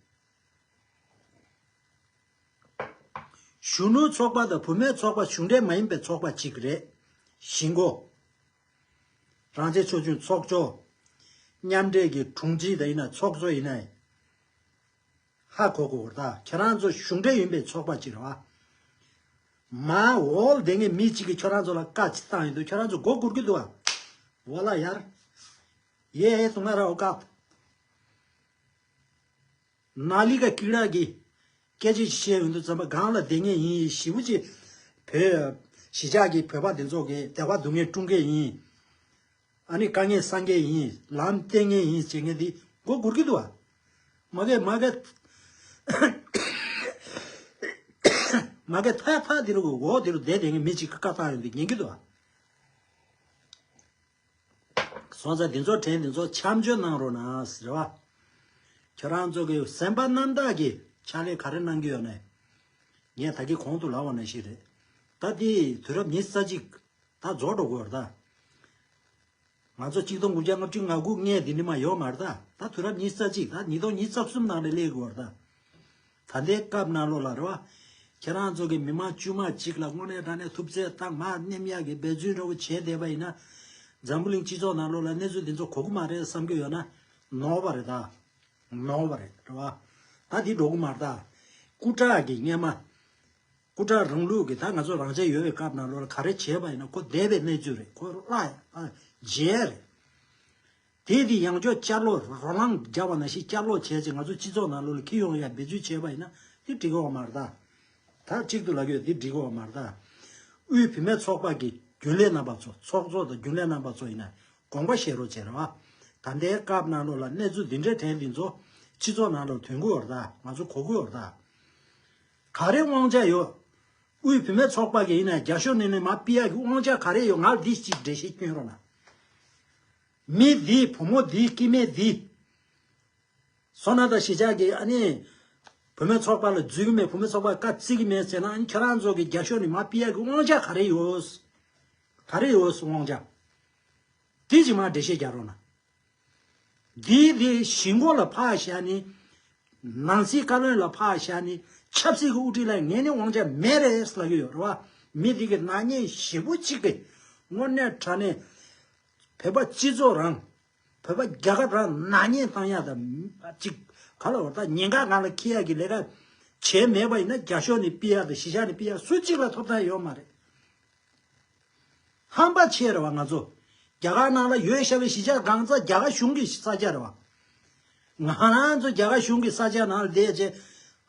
S1: གཞོན་ནུའི་ཚོགས་པ་དང་བུ་མོའི་ཚོགས་པ་གཞུང་འབྲེལ་མ་ཡིན་པའི་ཚོགས་པ་གཅིག་རེད། གཞིས་འགོ། རང་བྱས་ཆོས་འབྱུང་ཚོགས་གཙོ། མཉམ་འབྲེལ་གྱི་དྲུང་ཆེ་དང་ཡིན་ན་ཚོགས་གཙོ་ཡིན་ན། ཧ་གོ་གོ་འོ་ད་ཁྱེད་རང་ཚོ་གཞུང་འབྲེལ་ཡིན་པའི་ཚོགས་པ་གཅིག་རེད་བ། མ་འོལ་དེ་སྔའི་མི་གཅིག་གིས་ཁྱོད་རང་ཚོ་ལ་བཀའ་གཅིག་བཏང་ཡོད་འདུག་ཁྱོད་རང་ཚོ་མགོ་སྒུར་གི་འདུག་བ། འོ་ལ་ཡར། ཡེ་ཧེ་སུ་ང་ར་འོ་ཀ། ན་ལི་ཀ་ཀིག་རག་གི། སྐད་ཅིག་ཅིག་བཤད་ཡོད་འདུག་བཙན་པ་སྒང་ལ་དེ་སྔའི་ཡིན་ཡིན་ཞི་བུ་གཅིག་བོད། གཞིས་ཆགས་ཀྱི་བོད་པ་དེ་ཚོ་གི་དེ་བ་སྡུག་བསྔལ་སྐྲུང་མཁན་ཡིན། ཨ་ནི་དཀའ་ངལ་སངས་རྒྱས་ཡིན། ལམ་བསྟན་ངན་ཡིན་བྱེད་མཁན་འདི། མགོ་སྒུར་གི་འདུག་བ། མ་སྐད་མ་སྐད། མ་སྐད་ཐག་ཐག་དེ་རུ་འོག་དེ་རུ་བསྡད་བསྡད་ངན་མི་གཅིག་གི་བཀའ་ཐག་རིང་དུ་ཉན་གི་འདུག་བ། སོང་ཙང་དེ་ཚོ་དྲན་དེ་ཚོ་འཆམ་འཇོན་གནང་རོགས་གནང། རེད་བ། ཁྱོད་རང་ཚོ་གི་སེམས་པ་རྣམ་དག་གི་ཕྱག་ལས་ག་རེ་གནང་གི་ཡོད་ནའི། ངས་ད་གི་གོང་དུ་ལབ་བ་ན་ཞིག་རེད། ད་དེ་དུས་རབས་ཉི་ས་གཅིག། ད་རྫོགས་འགྲོ་དགོས་ར་ད། ང་ཚོ་གཅིག་སྟོང་དགུ་བརྒྱ་ལྔ་བཅུ་ང་དགུ་ལྔའི་དེ་འདྲི་མ་ཡོད་མ་རེད་ད། ད་དུས་རབས་ཉིས་རྩ་གཅིག་ད་ཉིས་སྟོང་ཉིས་རྩ་གསུམ་ནང་རེད་ལས་དགོས་ར་ད། ད་ལྟའི་སྐབས་གནའ་ལོ་ལ་རེད་བ། ཁྱེད་རང་ཚོ་གི་མི་མང་དཀྱུས་མ་གཅིག་ལ་དངོས་གནས་དྲང་གནས་ཐུབ་ཚད་དང་མ་སྣེམ་ཡག་གི་འབད་བརྩོན་ཧྲིལ་བོ་བྱས་བསྡད་པ་ཡིན་ན། འཛམ་བུ་གླིང་སྤྱི་ཚོགས་ནང་ལོ་ལ་གནས་ཚུལ་འདི་ཚོ་གོ་གི་མ་རེད་བསམ་གི་ཡོད་ན། ནོར་བ་རེད་ད། ནོར་བ་རེད་རེད་བ། ད་འདི་འགྲོ་གི་མ་རེད་ད། སྐུ་དྲག་གི་རྔན་མ། སྐུ་དྲག་རང་ལུགས་ཀྱི་ད་ང་ཚོ་རང་ཆས་ཡོད་པའི་སྐབས་ནང་ལོར་ག་རེ་བྱས་པ་ཡིན་ན་ཁོ་འདས་པའི་གནས་ཚུལ་རེད་ཁོ་བླ་རྗེས་རེད། དེས་དེ་ཡང་ཅོག་ཅར་ལོག་རོ་ལངས་རྒྱག་པ་ན་ཞིག་བསྐྱར་ལོག་བྱས་ཚེ་ང་ཚོ་སྤྱི་ཚོགས་ནང་ལོར་ཁྱི་ཡོང་ཡ་འབད་ཚུལ་བྱས་པ་ཡིན་ན་དེ་འགྲིག་གི་བ་མ་རེད། ད་གཅིག་ཏུ་ལ་ཁྱོད་དེ་འགྲིག་གི་བ་མ་རེད། དབུས་བུད་མེད་ཚོགས་པ་ཀྱི་རྒྱུན་ལས་རྣམ་པ་ཚོ་ཚོགས་གཙོ་དང་རྒྱུན་ལས་རྣམ་པ་ཚོ་ཡིན་ན་དགོངས་པ་བཞེས་རོགས་བྱེད་རེ་བ། ད་ལྟའི་སྐབས་ནང་ལོར་ལ་གནས་ཚུལ་འདི་འདྲའི་དྲན་འདི་ཚོ་སྤྱི་ཚོགས་ནང་ལོར་དོན་གུ་བ་རེད་ང་ཚོ་གོ་གུ་བ་རེད། ག་རེ་དབང་ཆ་ཡོད། དབུས་བུད་མེད་ཚོགས་པ་གི་ཡིན་ན་རྒྱ་ཤོ་ནེ་ནེ་མ་པི་ཡ་གི་དབང་ཆ་ག་རེ་ཡོད་ང་འདི་གཅིག་འགྲེལ་བཤད་སྐྱོན་རོགས་གནང། མི་འདི་བུ་མོ་འདི་སྐྱིད་མེད་འདི། སོ་ན་ད་ཞི་ཆགས་ཀྱི་ཨ་ནི། བུད་མེད་ཚོགས་པ་ལ་འཛུལ་གྱི་མེད་བུད་མེད་ཚོགས་པ་བཀའ་བརྩི་གི་མེད་ཟེར་ན་ཨ་ནི་ཁྱེད་རང་ཚོ་གི་རྒྱ་ཤོ་ནེ་མ་པི་ཡ་གི་དབང་ཆ་ག་རེ་ཡོད། ག་རེ་ཡོད་དབང་ཆ། འདི་གཅིག་མ་འགྲེལ་བཤད་རྒྱག་རོགས་གནང། འདི་དེ་གཞིས་མགོ་ལ་ཕག་བཞག་ནི། ནང་སྲིད་བཀའ་བློན་ལ་ཕག་བཞག་ནི། ཆབ་སྲིད་ཀྱི་དབུ་ཁྲིད་ལ་ངས་ནི་དབང་ཆ་མེད་རེད་ཟ་གི་ཡོད་རེད་བ། མི་རིགས་ཀྱི་ནག་ཉེས་བཞི་པོ་གཅིག་པའི། དངོས་གནས་དྲ་ནས། བོད་པ་སྤྱི་ཚོགས་རང། བོད་པ་རྒྱལ་ཁབ་རང་ནག་ཉེས་བཏང་ཡག་དང། གཅིག། ག་ལ་བ་ད་ཉེན་ཁ་ང་ལ་ཁེལ་ཡག་གི་ལས་ཀ། བྱས་མེད་པ་ཡིན་ན་རྒྱ་ཤོག་ནས་སྤི་ཡག་དང་གཞིས་ཆགས་ནས་སྤི་ཡག་སུ་གཅིག་ལ་ཐོབ་ཐང་ཡོད་མ་རེད། ཧམ་པ་ཆེ་རེད་བ་ང་ཚོ་རྒྱ་གར་ནང་ལ་ཡོད་ཤ་བའི་གཞི་ཆགས་སྒང་རྩ་རྒྱ་གར་གཞུང་གི་ས་ཆ་རེད་བ། ང་རང་ཚོ་རྒྱ་གར་གཞུང་གི་ས་ཆ་ནང་བསྡད་རྗེས་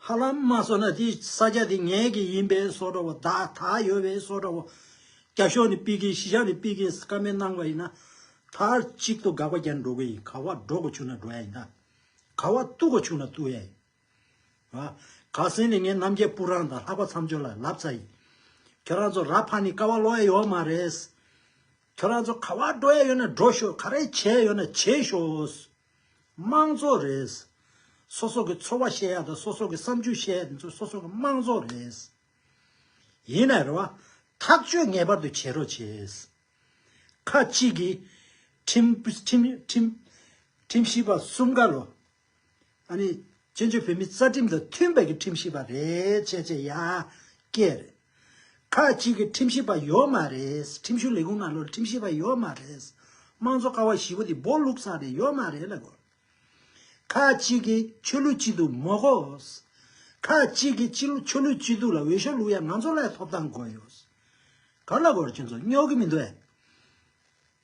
S1: ཧ་ལམ་མ་སོ་ན་དེ་ས་ཆ་དེ་ངའི་གི་ཡིན་པའི་སོ་འདྲ་བོ་དག་དག་ཡོད་པའི་སོ་འདྲ་བོ། རྒྱ་གཞུང་ནས་སྤི་གིན་གཞི་ཆགས་ནས་སྤི་གིན་ཀ་མེད་གནང་བ་ཡིན་ན་མཐར་གཅིག་ཏུ་དགག་པ་རྒྱག་འགྲོ་གི་ཡིན་ག་བ་འགྲོ་གི་ཆུག་ན་འགྲོ་ཡ་ཡིན་ད་ག་བ་བཏུ་གི་ཆུག་ན་བཏུ་ཡ་ཡིན། ག་སེང་ནས་ངས་རྣམ་རྒྱལ་སྤུ་རང་དང་ལྷག་པ་མཚམས་སྦྱོར་ལ་ལབ་ཚ་ཡིན། ཁྱོད་རང་ཚོ་ར་ཕ་ནི་ཀ་བ་ལོག་ཡ་ཡོད་མ་རེད། ཁྱོད་རང་ཚོ་ག་བ་འགྲོ་ཡ་ཡོད་ན་འགྲོ་ཤོག་ག་རེ་བྱེད་ཡ་ཡོད་ན་བྱེད་ཤོག། དམངས་གཙོ་རེད། སོ་སོ་གི་ཚོར་བ་བཤད་ཡ་དང་སོ་སོ་གི་བསམ་ཚུལ་བཤད་ཡ་དེ་ཚོ་སོ་སོ་གི་དམངས་གཙོ་རེད། ཡིན་ན་རེད་བ། ཐག་གཅོད་ངེས་པར་དུ་བྱེད་རོགས་བྱེད། ཁ་ཅིག་གིས། ཁྲིམས། ཁྲིམས། ཁྲིམས་ཞིབ་པ་གསུམ་ཀ་ལོ། ཨ་ནི། བཙན་བྱོལ་བོད་མིའི་རྩ་ཁྲིམས་དང་མཐུན་པའི་གི་ཁྲིམས་ཞིབ་པ་རེད་བྱས་བྱས་ཡ། སྐད་རེད། ཁག་གཅིག་གི་ཁྲིམས་ཞིབ་པ་ཡོད་མ་རེད། ཁྲིམས་ཞུ་ལས་ཁུངས་ནང་ལོར་ཁྲིམས་ཞིབ་པ་ཡོད་མ་རེད། དམངས་གཙོ་ཀ་བ་བཞི་བོ་དེ་སྦོ་ལུག་སང་རེད་ཡོད་མ་རེད་ལ་གོ། ཁག་གཅིག་གི་ཆོས་ལུགས་སྐྱིད་སྡུག་མོ་གོ། ཁག་གཅིག་གི་ཆོས་ལུགས་སྐྱིད་སྡུག་ལ་འོས་ཤོག་ལུག་ཡ་ང་ཚོ་ལ་ཡ་ཐོབ་ཐང་གོ་ཡོད། ག་ལ་གོ་ར་ཁྱོད་ཚོ་སྨྱོ་གི་མི་འདུག་ཨེ།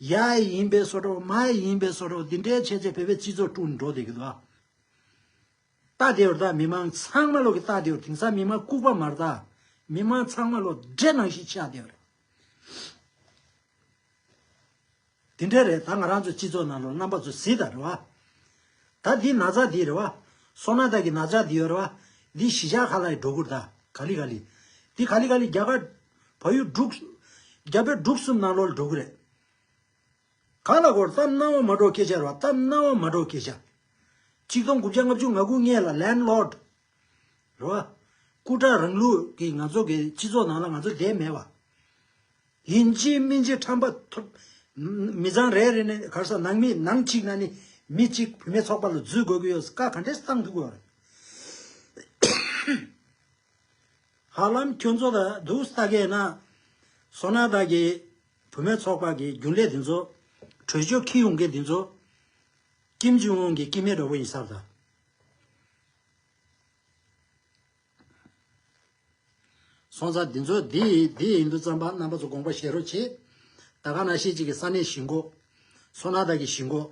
S1: ཡའི་ཡིན་པའི་སོ་ཏྲོ་མའི་ཡིན་པའི་སོ་ཏྲོ་འདི་འདྲའི་བྱས་རྗེས་བོད་པའི་སྤྱི་ཚོགས་དཀྲུགས་འགྲོ་བསྡད་གི་འདུག་ཨ། རྟ་དེ་འུར་རྟ་མི་མང་ཚང་མ་ལོག་གི་རྟ་དེ་འུར་དེང་སང་མི་མང་ལྐུག་པ་མ་རྟ་མི་མང་ཚང་མ་ལོག་འདྲེ་ནང་བཞིན་ཆགས་བསྡད་པ་རེད། དེ་འདྲས་རེད་ད་ང་རང་ཚོའི་སྤྱི་ཚོགས་ནང་ལོག་རྣམ་པ་ཚོ་ཟི་དང་རེད་བ། ད་འདི་ན་ཚ་འདི་རེད་བ། སོ་ན་ད་གི་ན་ཅག་འདི་ཡོད་རེད་བ། འདི་གཞི་ཆགས་ཁ་ལ་ཡི་སྒྲོ་གུར་ད་ག་ལི་ག་ལི། འདི་ག་ལི་ག་ལི་རྒྱ་གར་བ་ཡུལ་དྲུག། རྒྱ་བོད་འབྲུག་གསུམ་ནང་ལོར་འགྲོ་གི་རེད། གང་ལ་གོ་རྩམ་སྣང་བ་མ་འགྲོ་སྐད་ཆ་རེད་བ་རྩམ་སྣང་བ་མ་འགྲོ་སྐད་ཆ། གཅིག་སྟོང་དགུ་བརྒྱ་ལྔ་བཅུ་ང་དགུ་ལྔས་ལ་ལན་ལོར། རེད་བ། སྐུ་དྲག་རང་ལུགས་ཀྱི་ང་ཚོ་གི་སྤྱི་ཚོགས་ནང་ལ་ང་ཚོ་བསྡད་མེད་བ། ཡིན་གཅིག་མིན་གཅིག་ཁྲམ་པ་ཐོབ། མི་ཚང་རེ་རེ་ནས་གར་ས་ནང་མི་ནང་གཅིག་ན་ནི་མི་གཅིག་བུད་མེད་ཚོགས་པ་ལ་འཛུལ་དགོས་ཀྱི་ཡོད་ཀ་ག་འདྲའི་གསང་ཐུབ་ཀྱི་བ་རེད། ཧ་ལམ་ཁྱོད་ཚོ་ལ་སྡུག་ས་གས་ན། སོ་ན་བདག་གི་བུ་མོའི་ཚོགས་པ་གི་རྒྱུན་ལས་འདི་ཚོ། བྲོས་བྱོལ་ཁི་ཡོང་གི་འདི་ཚོ། ཀིམ་ཇུང་ཨུན་གི་ཀི་མེ་རོ་བོ་ཡིན་སར་ད། སོང་ཙང་འདི་ཚོ་འདི་འདི་ཡིན་འདུག་རྩམ་པ་རྣམ་པ་ཚོ་དགོངས་པ་བཞེས་རོགས་བྱེད། ད་ག་ན་ཤེས་གཅིག་གི་ས་གནས་བཞི་མགོ། སོ་ན་བདག་གི་བཞི་མགོ།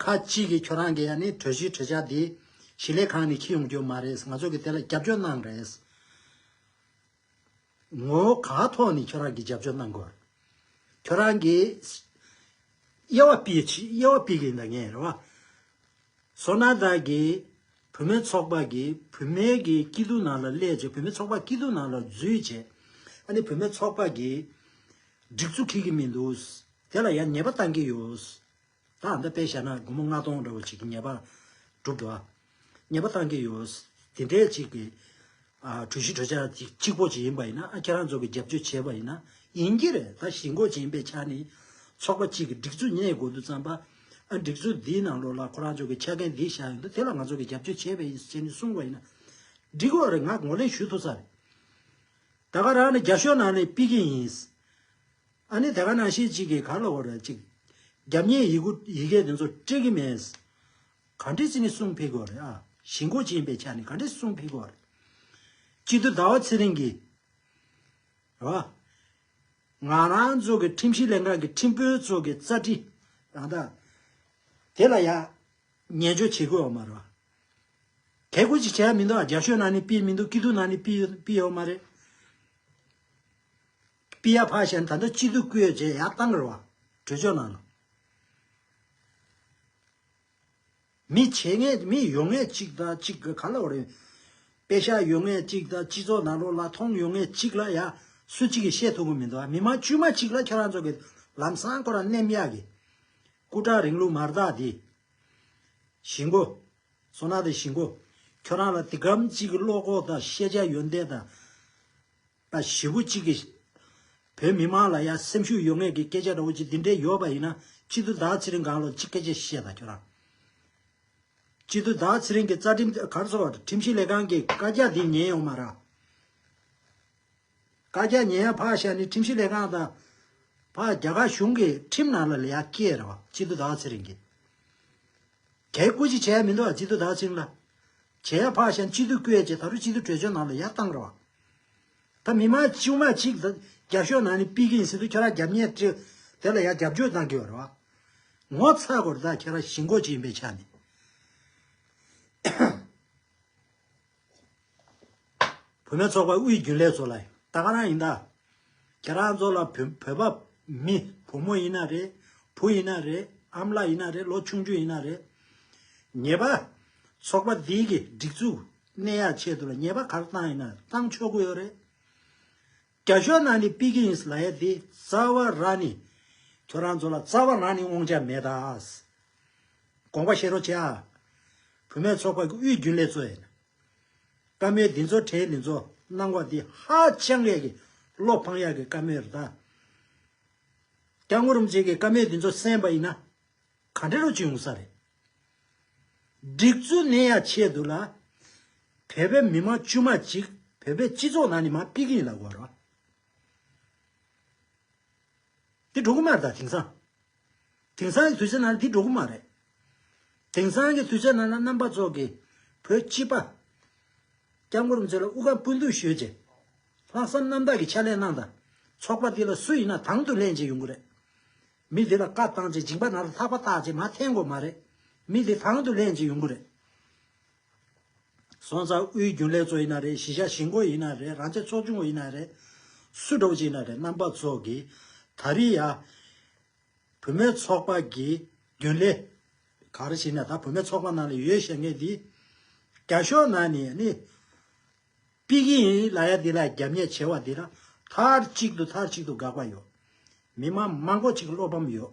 S1: ཁ་ཅིག་གིས་ཁྱོད་རང་གི་ཡ་ནི་གྲོས་གཞི་གྲོས་འཆར་འདི་གཞི་ལས་གང་ནས་ཁྱི་ཡོང་རྒྱུ་མ་རེད་ང་ཚོ་གི་དེ་ལ་རྒྱབ་སྐྱོར་གནང་རེད། ངོ་བོ་ག་ཐོག་ནས་ཁྱོད་རང་གི་རྒྱབ་སྐྱོར་གནང་དགོས། ཁྱོད་རང་གི་དབྱེ་བ་པི་དབྱེ་བ་པི་གིས་འདང་ངེས་རེད་བ། སོ་ན་བདག་གི་བུད་མེད་ཚོགས་པ་གི་བུད་མེད་ཀྱི་སྐྱིད་སྡུག་ནང་ལ་སླེབས་རྗེས་བུད་མེད་ཚོགས་པ་སྐྱིད་སྡུག་ནང་ལ་འཛུལ་རྗེས་ཨ་ནི་བུད་མེད་ཚོགས་པ་གི་སྒྲིག་འཛུགས་ཁྱི་གི་མི་འདུག་དེ་ལ་ཡ་ཉེས་པ་བཏང་གི་ཡོད། བདག་འདི་དཔེ་བྱས་ན་སྒོར་མོ་ལྔ་སྟོང་འདྲ་བོ་ཞིག་གི་ཉེས་པ་སྒྲུབ་དགོས། ཉེས་པ་བཏང་གི་ཡོད། དེ་འདྲའི་ཅིག་གི། གྲོས་གཞི་གྲོས་འཆར་ཅིག་གཅིག་པོ་ཞིག་ཡིན་པ་ཡིན་ན་ཁྱེད་རང་ཚོ་གི་རྒྱབ་སྐྱོར་བྱས་པ་ཡིན་ན་ཡིན་གྱི་རེད་ད་གཞིས་འགོ་བྱིན་པའི་ཆ་ནས་ཚོགས་པ་ཅིག་གི་སྒྲིག་འཛུགས་གཉེར་དགོས་འདུག་བསམ་པ། སྒྲིག་འཛུགས་འདིའི་ནང་ལོགས་ལ་ཁོ་རང་ཚོ་གི་ཆ་རྐྱེན་འདི་བཞག་ཡོད་འདུག་དེ་ལ་ང་ཚོ་གི་རྒྱབ་སྐྱོར་བྱས་པ་ཡིན་ཟེར་ནས་གསུངས་པ་ཡིན་ན། འགྲིག་གི་རེད་ང་ངོས་ལེན་ཞུ་ཐུབ་ས་རེད། ད་ག་རང་ནས་རྒྱ་ཤོག་ནང་ནས་སྤེལ་གྱི་ཡིན། ཨ་ནི་ད་ག་ནང་ཤེས་ཅིག་གིས་ག་ལ་བ་ར་ཅིག། རྒྱབ་གཉིས་ཡི་གུ་ཡི་གེ་དེ་ཚོ་སྤྲད་གི་མེད། ག་འདྲི་ཚི་ནི་སུང་ཕི་གོ་རེ་ཨ། ཞི་མགོ་ཅི་ཡིན་པའི་ཆ་ནི་ག་འདྲི་སུང་ཕི་གོ་རེ། གཅིག་ཏུ་ཟླ་བ་ཚེ་རིང་གིས། རེ་བ། ང་རང་ཚོ་གི་ཁྲིམས་ཞིབ་ལས་ཁང་གི་ཁྲིམས་དཔོན་ཚོ་གི་རྩ་ཁྲི། རང་ད། དེ་ལ་ཡ། ཉན་འཇོག་བྱེད་དགོས་བ་མ་རེ་བ། གལ་གུ་ཅིག་བྱས་ཡ་མི་འདུག་ཨ་རྒྱ་ཤོད་ན་ནི་སྤིས་མི་འདུག་སྐྱིད་སྡུག་ན་ནི་སྤིས་སྤིས་ཡོད་མ་རེད། པི་ཡ་ཕཱ་ཞན་ད་ལྟ་སྤྱི་འཐུས་སྐུ་ཡོད་ཅེས་ཡག་གཏང་གི་རེད་བ། གྲོས་ཆོད་གནང་ན། མི་བྱེད་ངེས་མི་ཡོང་ངེས་གཅིག་དང་གཅིག་གི་ག་ལ་བར་ཡོད། དཔེ་ཤག་ཡོད་ངེས་གཅིག་དང་སྤྱི་ཚོགས་ནང་ལོག་ལ་མཐོང་ཡོང་ངེས་གཅིག་ལ་ཡ། སུ་གཅིག་གིས་བཤད་ཐུབ་གི་མི་འདུག་མི་མང་དཀྱུས་མ་གཅིག་ལ་ཁྱེད་རང་ཚོ་གི་ལམ་སང་ཁོ་རང་མནན་ཡག་གི། སྐུ་དྲག་རིང་ལུགས་མར་དག་འདི། ཞིག་མགོ། སོ་ན་དེ་ཞིག་མགོ། ཁྱོད་རང་ལ་དེ་གམ་གཅིག་གི་བློ་ཁོག་དང་ཤེས་བྱ་ཡོན་ཏན་དང། ད་བཞི་པོ་གཅིག་གིས། བོད་མི་དམངས་ལ་ཡ་སེམས་ཤུགས་ཡོད་ངེས་ཀྱི་སྐད་ཆ་འདྲ་བོ་གཅིག་འདི་འདྲའི་ཡོད་པ་ཡིན་ན་སྤྱི་འཐུས་བདག་ཚེ་རིང་གང་ལོ་གཅིག་སྐད་ཆ་བཤད་ད་ཁྱོད་རང། སྤྱི་འཐུས་བདག་ཚེ་རིང་གི་རྩ་ཁྲིམས་གར་ཚོགས་ཁྲིམས་ཞིབ་ལས་ཁང་གི་བཀའ་རྒྱ་འདི་ཉན་ཡོང་མ་རག། བཀའ་རྒྱ་ཉན་ཡ་ཕག་ཤ་ནི་ཁྲིམས་ཞིབ་ལས་ཁང་དང། ཕག་རྒྱ་ག་གཞུང་གི་ཁྲིམས་ནང་ལ་ལ་ཡ་སྐྱེས་ར་བ་སྤྱི་འཐུས་བདག་ཚེ་རིང་གིས། གས་སྐུ་ཅིག་བྱས་ཡ་མི་འདུག་ཨ་སྤྱི་འཐུས་བདག་ཚེ་རིང་ལ། བྱས་ཡ་ཕག་ཤན་སྤྱི་འཐུས་བསྐོས་རྗེས་ད་རུ་སྤྱི་འཐུས་གྲོས་ཆོད་ནང་ལ་ཡ་བཏང་རོགས། ད་མི་མང་ཆིའུ་མ་ཅིག་ད་རྒྱབ་ཤོག་ནང་ནས་པི་གིན་སི་ཏུ་ཁྱོད་ར་རྒྱབ་ཉེས་ཏྲི་དེ་ལ་ཡ་རྒྱབ་སྐྱོར་གཏང་གི་ཡོད་རོགས། ངོ་ཚ་གོ་ད་ཁྱེད་ར་ཞིང་འགོ་ཅིག་ཡིན་པའི་ཆ་ནས། བོད་མི་ཚོགས་པ་དབུས་རྒྱུན་ལས་ཚོ་ལ་ད་ག་རང་ཡིན་ད། ཁྱེད་རང་ཚོ་ལ་བོད་པ་མི་བུ་མོ་ཡིན་ན་རེད་བུ་ཡིན་ན་རེད་ཨམ་ལགས་ཡིན་ན་རེད་ལོ་ཆུང་ཆུང་ཡིན་ན་རེད། ཉེས་པ། ཚོགས་པ་འདི་གི་སྒྲིག་འཛུགས་གནས་ཡག་ཆེད་དུ་ལ་ཉེས་པ་ག་རེ་བཏང་ཡིན་ན་བཏང་ཆོག་གི་ཡོད་རེད། རྒྱ་ཤོ་ན་ནི་སྤི་གི་ཡིན་ལ་ཡ་དེ་རྩ་བ་ར་ནི་ཁྱོད་རང་ཚོ་ལ་རྩ་བ་ར་ནི་དབང་ཆ་མེད་ད། དགོངས་པ་བཞེས་རོགས་བྱས་ཨ། བུད་མེད་ཚོགས་པ་གི་དབུས་རྒྱུན་ལས་ཚོ་ཡིན། བཀའ་མོལ་འདི་ཚོ་དྲན་ནས་ཚོ་གནང་བ་འདི་ཧ་ཅང་ཡག་གི་བློ་ཕངས་ཡག་གི་བཀའ་མོལ་རེད་ད། སྐྱག་ངོ་རུམ་བྱེད་ཀྱི་བཀའ་མོལ་འདི་ཚོ་གསན་པ་ཡིན་ན་ག་འདྲ་རུ་བྱུང་ཡོང་ས་རེད། སྒྲིག་ཚུལ་ནད་ཡག་ཆེ་འདུག་ལ། བོད་པའི་མི་མང་དཀྱུས་མ་གཅིག་བོད་པའི་སྤྱི་ཚོགས་ནང་ནས་མ་ཕིག་གིན་ལ་གོ་རོ། འདི་འགྲོ་གི་མ་རེད་ད་དེང་སང། དེང་སང་གི་དུས་ཆེན་ནང་འདི་འགྲོ་གི་མ་རེད། དེང་སང་གི་དུས་ཆེན་ནང་ལ་རྣམ་པ་ཚོགས་ཀྱི་བོད་སྤྱི་པ། སྐྱབས་མགོན་རིན་ཆེན་ལ་དབུ་དཀར་སྤུན་བདུན་ཞུས་རྗེས། ལྷག་བསམ་རྣམ་དག་གི་ཕྱག་ལས་གནང་དང་ཚོགས་པ་འདི་ལ་སུ་ཡིན་ན་དང་དུ་ལེན་བྱེད་ཡོང་གི་རེད། མི་འདི་ལ་བཀའ་བཏང་རྗེས་སྦྱིན་པ་ནང་དུ་ལྷག་པ་བཏགས་རྗེས་མ་འཐེན་དགོས་མ་རེད། མི་འདི་དང་དུ་ལེན་བྱེད་ཡོང་གི་རེད། སོང་ཙང་དབུས་རྒྱུན་ལས་ཚོ་ཡིན་ན་རེད་གཞིས་ཆགས་གཞིས་འགོ་ཡིན་ན་རེད་རང་ཅག་ཚོགས་ཆུང་བ་ཡིན་ན་རེད། སུ་གྲོགས་ཅིག་ཡིན་ན་རེད་རྣམ་པ་ཚོ་གི་ད་རི་ཡ། བུད་མེད་ཚོགས་པ་གི་རྒྱུན་ལས། ག་རེ་ཞིག་ནས་ད་བུད་མེད་ཚོགས་པ་ནང་ལ་ཡོད་བཤད་ངེས་འདི། རྒྱ་ཤོག་ནང་ནས་ནི། པི་གི་ཡིན་ལ་ཡ་འདི་ལ་རྒྱབ་ཉེས་བྱེད་བ་འདི་ར་མཐར་གཅིག་ཏུ་མཐར་གཅིག་ཏུ་དགག་པ་ཡོད། མི་དམངས་མང་པོ་ཅིག་བློ་ཕམ་ཡོད།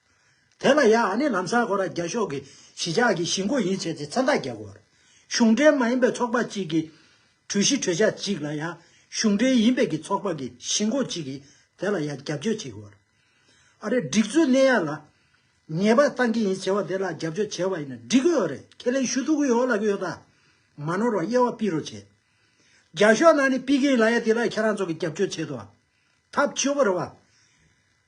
S1: དེ་ལ་ཡང་ཨ་ནི་ལམ་སར་ཁོ་རང་རྒྱ་ཤོག་གི་གཞིས་ཆགས་ཀྱི་གཞིས་འགོ་ཡིན་ཟེར་ཏེ་མཚན་རྟགས་རྒྱག་དགོས། གཞུང་འབྲེལ་མ་ཡིན་པའི་ཚོགས་པ་གཅིག་གི་གྲོས་གཞི་གྲོས་འཆར་གཅིག་ལ་ཡང་གཞུང་འབྲེལ་ཡིན་པའི་གི་ཚོགས་པ་གི་གཞིས་འགོ་གཅིག་གིས་དེ་ལ་ཡང་རྒྱབ་སྐྱོར་བྱེད་དགོས། ཨ་རིའི་སྒྲིག་འཛུགས་སྣེ་ཡང་ལ་ཉེས་པ་བཏང་གི་ཡིན་ཟེར་བ་དེ་ལ་རྒྱབ་སྐྱོར་བྱེད་པ་ཡིན་ན་འགྲིག་གི་ཡོད་རེད་ཁས་ལེན་ཞུ་ཐུབ་གི་ཡོད་ལབ་གི་ཡོད་ད། མ་ནོར་བར་དབྱེ་བ་སྤིག་རོགས་བྱེད། རྒྱ་ཤོག་ནང་ནས་སྤིག་གི་ཡིན་ལ་ཡ་དེ་ལ་ཁྱེད་རང་ཚོ་གི་རྒྱབ་སྐྱོར་བྱེད་དོ། ཐབས་ཆོས་པོ་རེད་བ།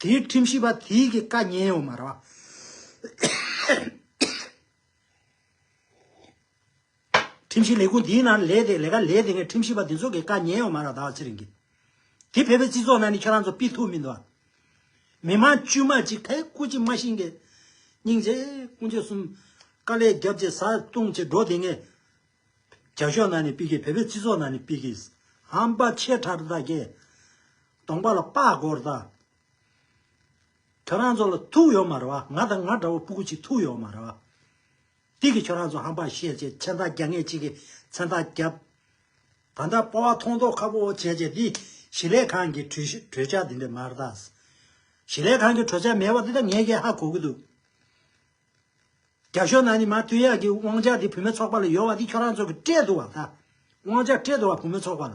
S1: དེའི་ཁྲིམས་ཞིབ་པ་དེའི་གི་བཀའ་ཉན་ཡོད་མ་རེད། ཁྲིམས་ཞིབ་ལས་ཁུངས་དེའི་ནང་ལས་དེ་ལས་ཀ་ལས་དེ་སྔའི་ཁྲིམས་ཞིབ་པ་དེ་ཚོ་གི་བཀའ་ཉན་ཡོད་མ་རེད་ད་བར་ཚེ་རིང་གི། དེ་བོད་པའི་སྤྱི་ཚོགས་ནང་ནས་ཁྱོད་རང་ཚོ་སྤི་ཐུབ་མི་འདུག། མི་མང་དཀྱུས་མ་གཅིག་ཐད་སྐུ་གཅིག་མ་ཤིང་གི། སྙིང་རྗེ་ཀུན་སྤྱོད་གསུམ། དཀའ་ལས་རྒྱབ་ཅེས་བཟའ་བཏུང་བྱེད་འགྲོ་དེ་སྔའི། རྒྱ་ཤོག་ནང་ནས་སྤི་གི་བོད་པའི་སྤྱི་ཚོགས་ནང་ནས་སྤི་གི། ཧམ་པ་ཆེ་ཕྲ་དག་གི། སྟོང་པ་ལ་དཔའ་བསྒོར་ད། ཁྱོད་རང་ཚོ་ལ་ཐུག་ཡོད་མ་རེད་བ་ང་དང་ང་འདྲ་བོ་སྤུ་གུ་ཅིག་ཐུག་ཡོད་མ་རེད་བ། དེ་གི་ཁྱོད་རང་ཚོ་ཧམ་པ་བཤད་བྱས་མཚན་རྟགས་རྒྱ་ངེས་གཅིག་གི་མཚན་རྟགས་རྒྱབ། ད་ལྟ་སྤོ་བ་མཐོང་མཐོང་ཁ་བོ་བོ་བྱས་བྱས་འདི་ཞི་ལས་ཁང་གི་གྲོས་འཆར་འདི་འདྲས་མ་རེད་ད། ཞི་ལས་ཁང་གི་གྲོས་འཆར་མེད་བ་འདི་ད་ངས་ཀྱང་ཧ་གོ་གི་འདུག། རྒྱ་གཞུང་ནང་ནས་མར་ཐུན་ཡག་གི་དབང་ཆ་འདི་བུད་མེད་ཚོགས་པ་ལ་ཡོད་བ་འདི་ཁྱོད་རང་ཚོ་གི་སྤྲད་འདུག་བ་ད། དབང་ཆ་སྤྲད་འདུག་བ་བུད་མེད་ཚོགས་པ་ལ།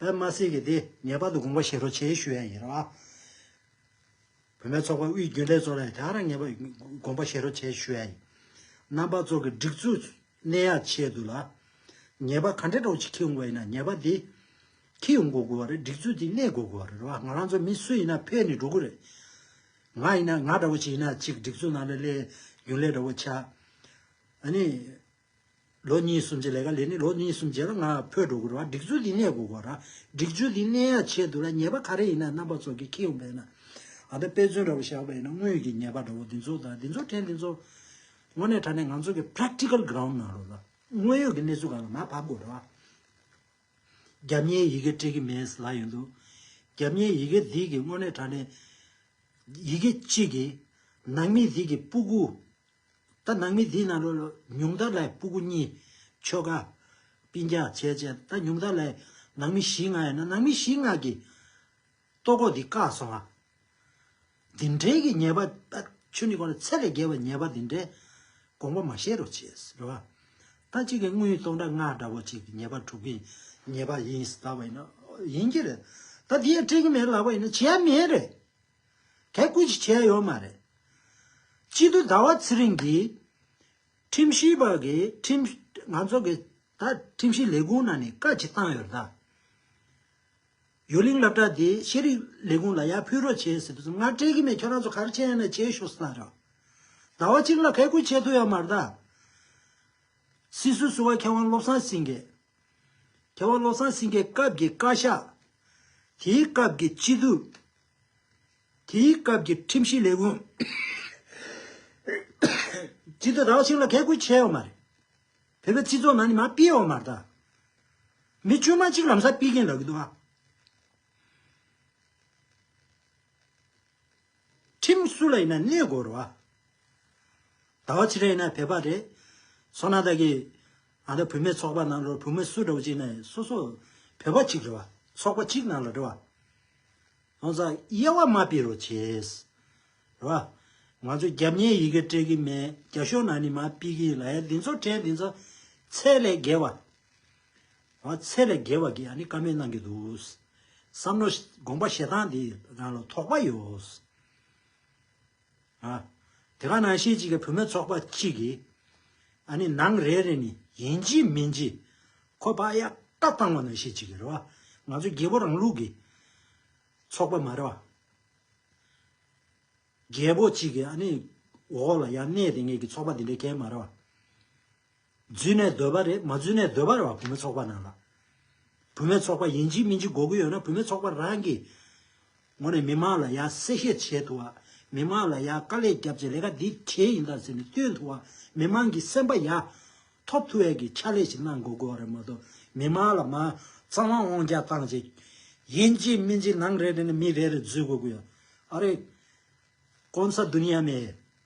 S1: པད་མ་སྲས་ཀྱིས་དེ་ངེས་པར་དུ་དགོངས་པ་བཞེས་རོགས་བྱས་ཞུ་ཡ་ཡིན་རོགས་ཨ། བོད་མའི་ཚོགས་པ་དབུས་རྒྱུན་ལས་གཙོ་བ་ལ་ཡང་དེའང་ངེས་པར་དགོངས་པ་བཞེས་རོགས་བྱས་ཞུ་ཡ་ཡིན། རྣམ་པ་ཚོགས་ཀྱི་སྒྲིག་འཛུགས་གནས་ཡག་ཆེད་དུ་ལ། ངེས་པར་ག་འདྲའི་གྲོགས་ཅིག་ཁྱི་ཡོང་པ་ཡིན་ན་ངེས་པར་དེ། ཁྱི་ཡོང་དགོས་དགོས་བ་རེད་སྒྲིག་འཛུགས་དེ་གནས་དགོས་དགོས་བ་རེད་རོགས་ཨ་ང་རང་ཚོ་མི་སུ་ཡིན་ན་ཕེབས་ནས་འགྲོ་དགོས་རེད། ང་ཡིན་ན་ང་འདྲ་བོ་ཅིག་ཡིན་ན་ཅིག་སྒྲིག་འཛུགས་ནང་ལ་སླེབས་རྒྱུན་ལས་འདྲ་བོ་ཆགས། ཨ་ནི། ལོ་གཉིས་སུམ་ཅུ་ལས་ཀ་ལས་ནི་ལོ་གཉིས་སུམ་ཅུ་ལ་ང་ཕོད་འགྲོ་དགོས་རུང་བ་སྒྲིག་འཛུགས་ཀྱི་གནས་དགོས་གོ་ར། སྒྲིག་འཛུགས་ཀྱི་གནས་ཡ་ཆེད་དུ་ལ་ཉེས་པ་ག་རེ་ཡིན་ན་རྣམ་པ་ཚོགས་ཀྱི་ཁྱི་ཡོང་པ་ཡིན་ན། ད་ལྟ་དཔེ་མཚོན་འདྲ་པོ་བཞག་པ་ཡིན་ན་དངོས་ཡོད་ཀྱི་ཉེས་པ་འདྲ་བོ་འདི་ཚོ་དང་འདི་ཚོ་ཕྲན་འདི་ཚོ། དངོས་གནས་དྲ་གནས་ང་ཚོ་གི Practical Ground ནང་རུ་ལ་དངོས་ཡོད་ཀྱི་གནས་ཚུལ་གང་ལ་མ་བབས་གོ་ར། རྒྱབ་གཉེར་ཡི་གེ་སྤྲད་ཀྱི་མེད་ཟེར་ལ་ཡོད་འདུག་རྒྱབ་གཉེར་ཡི་གེ་འདི་གི་དངོས་གནས་དྲ་གནས། ཡི་གེ་གཅིག་གིས་ནང་མི་འདི་གི་སྤུ་གུ། ད་ནང་མི་འདི་ན་ལོ་ལོ་ཉུང་མཐར་ལྷའི་སྤུ་གུ་གཉིས། ཆོ་ག། སྤིན་རྒྱ་ཆས་ཅན་ད་ཉུང་མཐར་ལྷའི་ནང་མི་བཞི་ལྔ་ཡོད་ན་ནང་མི་བཞི་ལྔ་གི། ལྟོ་གོག་འདི་བཀག་སོང་ང། འདི་འདྲའི་གི་ཉེས་པ་ད་ཆོས་ཉིད་གོང་ལ་ཚད་ལས་བརྒལ་བའི་ཉེས་པ་འདི་འདྲའི་དགོངས་པ་མ་བཞེས་རོགས་བྱས་རེད་བ། ད་གཅིག་གི་དངོས་ཡོད་སྟོང་དགྲ་ང་དགྲ་བོ་གཅིག་གི་ཉེས་པ་དྲུག་གི་ཉེས་པ་ཡིན་ཟླ་བ་ཡིན་ན་ཡིན་གྱི་རེད། ད་འདི་ཡང་སྤྲད་ཀྱི་མེད་ལབ་པ་ཡིན་ན་བྱེད་ཡ་མེད་རེད། དེ་སྐུལ་གྱི་བྱས་ཡོད་མ་རེད། གཅིག་ཏུ་ཟླ་བ་ཚེ་རིང་གིས། ཁྲིམས་ཞིབ་པ་གིས་ཁྲིམས། ང་ཚོ་གིས་ད་ཁྲིམས་ཞིབ་ལས་ཁུངས་ནང་ནས་བཀའ་ཅི་བཏང་ཡོད་རེད་ད། ཡོད་གླིང་བསླབ་གྲྭ་དེ་ཤེས་རིག་ལས་ཁུངས་ལ་ཡར་ཕུལ་རོགས་བྱས་ཟེར་དུས་སུ་ང་སྤྲད་ཀྱི་མེད་ཁྱོད་རང་ཚོ་ག་རེ་བྱས་ཡོད་ན་བྱས་ཤོག་ཟེར་ད། ཟླ་བ་གཅིག་ལ་ག་སྐུལ་བྱས་ཐུབ་ཡོད་མ་རེད་ད། སྲིད་བཟོ་ཟུར་བ་མཁས་དབང་བློ་བཟང་སེང་གེ། མཁས་དབང་བློ་བཟང་སེང་གེ་སྐབས་ཀྱི་བཀའ་ཤག། དེའི་སྐབས་ཀྱི་སྤྱི་འཐུས། དེའི་སྐབས་ཀྱི་ཁྲིམས་གཞིའི་ལས་ཁུངས། ཇི་ལྟར་རག་ཅིག་ལ་གས་ཁུལ་བྱས་ཡོད་མ་རེད། བོད་པའི་སྤྱི་ཚོགས་ནང་ནས་མ་སྤེལ་ཡོད་མ་རེད་ད། མི་དཀྱུས་མ་གཅིག་ལམ་སང་སྤེལ་གྱིན་ལབ་གི་འདུག་ཨ། ཁྲིམས་སུ་ལ་ཡིན་ན་གནས་དགོས་རོགས་ཨ། ད་བ་ཕྱི་ར་ཡིན་ན་བོད་པ་རེད། སོ་ན་ད་གི། ང་ལ་བུད་མེད་ཚོགས་པ་ནང་ལོར་བུད་མེད་སུ་འདྲ་བོ་ཅིག་ནས་སོ་སོ་བོད་པ་གཅིག་རེད་བ་ཚོགས་པ་གཅིག་ནང་ལ་འགྲོ་བ། ལྷོང་ཙག་དབྱེ་བ་མ་སྤེལ་རོགས་བྱེད། རེད་བ། ང་ཚོ་རྒྱབ་གཉེར་ཡི་གེ་སྤྲད་གི་མེད་རྒྱ་གཞུང་ནང་ནས་མ་སྤེལ་གི་ལ་ཡ་འདི་ཚོ་ཁྲལ་འདི་ཚོ་ཚད་ལས་བརྒལ་བ། རེད་བ་ཚད་ལས་བརྒལ་བ་གི་ཡ་ནི་ཀ་མེད་གནང་གི་འདུག་བསམ་མནོ་དགོངས་པ་བཞེད་སྟངས་འདི་རང་ལ་དོགས་པ་ཡོད། དེ་ག་ནང་ཤེས་གཅིག་གི་བུད་མེད་ཚོགས་པ་གཅིག་གིས། ཨ་ནི་ནང་རེ་རེ་ནི་ཡིན་གྱི་མིན་གྱི། ཁོ་པ་ཡག་ཏག་བཏང་བ་ནང་ཤེས་གཅིག་གི་རེད་བ། ང་ཚོ་རྒྱལ་པོ་རང་ལུགས་ཀྱི་ཚོགས་པ་མ་རེད་བ། རྒྱལ་པོ་གཅིག་གི་ཨ་ནི་འོག་ལ་ཡང་གནས་དེ་ངེས་ཀྱི་ཚོགས་པ་དེ་འདྲའི་གལ་མ་རེད་བ། བརྫུས་ནས་སྡོད་པ་རེད་མ་བརྫུས་ནས་སྡོད་པར་བ་བུད་མེད་ཚོགས་པ་ནང་ལ། བུད་མེད་ཚོགས་པ་ཡིན་གཅིག་མིན་གཅིག་འགོག་གི་ཡོད་ན་བུད་མེད་ཚོགས་པ་རང་གིས། ངོ་ནས་མི་མང་ལ་ཡང་གསལ་བཤད་བྱེད་ཐུབ་བ། མི་མང་ལ་ཡང་དཀའ་ལས་རྒྱབ་བྱེད་ལས་ཀ་འདི་གལ་ཡིན་དང་ཟེར་ནས་སྟོན་ཐུབ་བ། མི་མང་གིས་སེམས་པ་ཡང། ཐོབ་ཐུབ་བས་ཀྱི་ཕྱག་ལས་ཞིག་གནང་དགོས་དགོས་བ་རེད་མ་གཏོགས་མི་མང་ལ་མ། གཙང་མ་དབང་རྒྱག་བཏང་བྱས། ཡིན་གཅིག་མིན་གཅིག་ནང་རེ་རེ་ནས་མི་རེ་རེ་བརྫུས་དགོས་ཀྱི་ཡོད། ཨ་རེ། ཀོང་ས་འདུན་ཡ་མེད།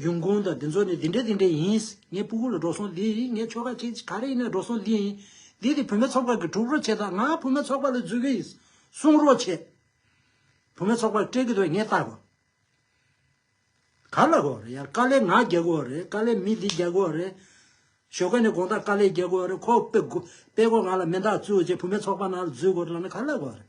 S1: གཞུང་གང་དང་འདི་ཚོ་ནི་འདི་འདྲ་འདི་འདྲ་ཡིན། ངའི་སྤུ་གུ་ལ་འགྲོ་སོང་འདི་ཡིན་ངའི་ཆོལ་ཁ་ཁྱེད་ཀྱི་ག་རེ་ཡིན་ན་འགྲོ་སོང་འདི་ཡིན། འདི་དེ་བུད་མེད་ཚོགས་པར་གྱི་དྲུག་རོགས་བྱེད་དང་ང་བུད་མེད་ཚོགས་པ་ལ་འཛུལ་གྱི་ཡིན། གསུང་རོགས་བྱེད། བུད་མེད་ཚོགས་པར་སྤྲད་ཀྱི་འདུག་ངས་བལྟ་དགོས། ག་ལ་དགོས་རེད་ཡ་དཀའ་ལས་ང་རྒྱག་དགོས་རེད་དཀའ་ལས་མི་འདི་རྒྱག་དགོས་རེད། ཞོགས་ཀ་ནས་དགོང་དག་དཀའ་ལས་རྒྱག་དགོས་རེད་ཁོ་སྤེ་སྒོ་སྤེ་སྒོ་ང་ལ་མེ་མདག་བཙུགས་རྗེས་བུད་མེད་ཚོགས་པ་ནང་ལ་འཛུལ་དགོས་རེད་ལབ་ན་ག་ལ་དགོས་རེད།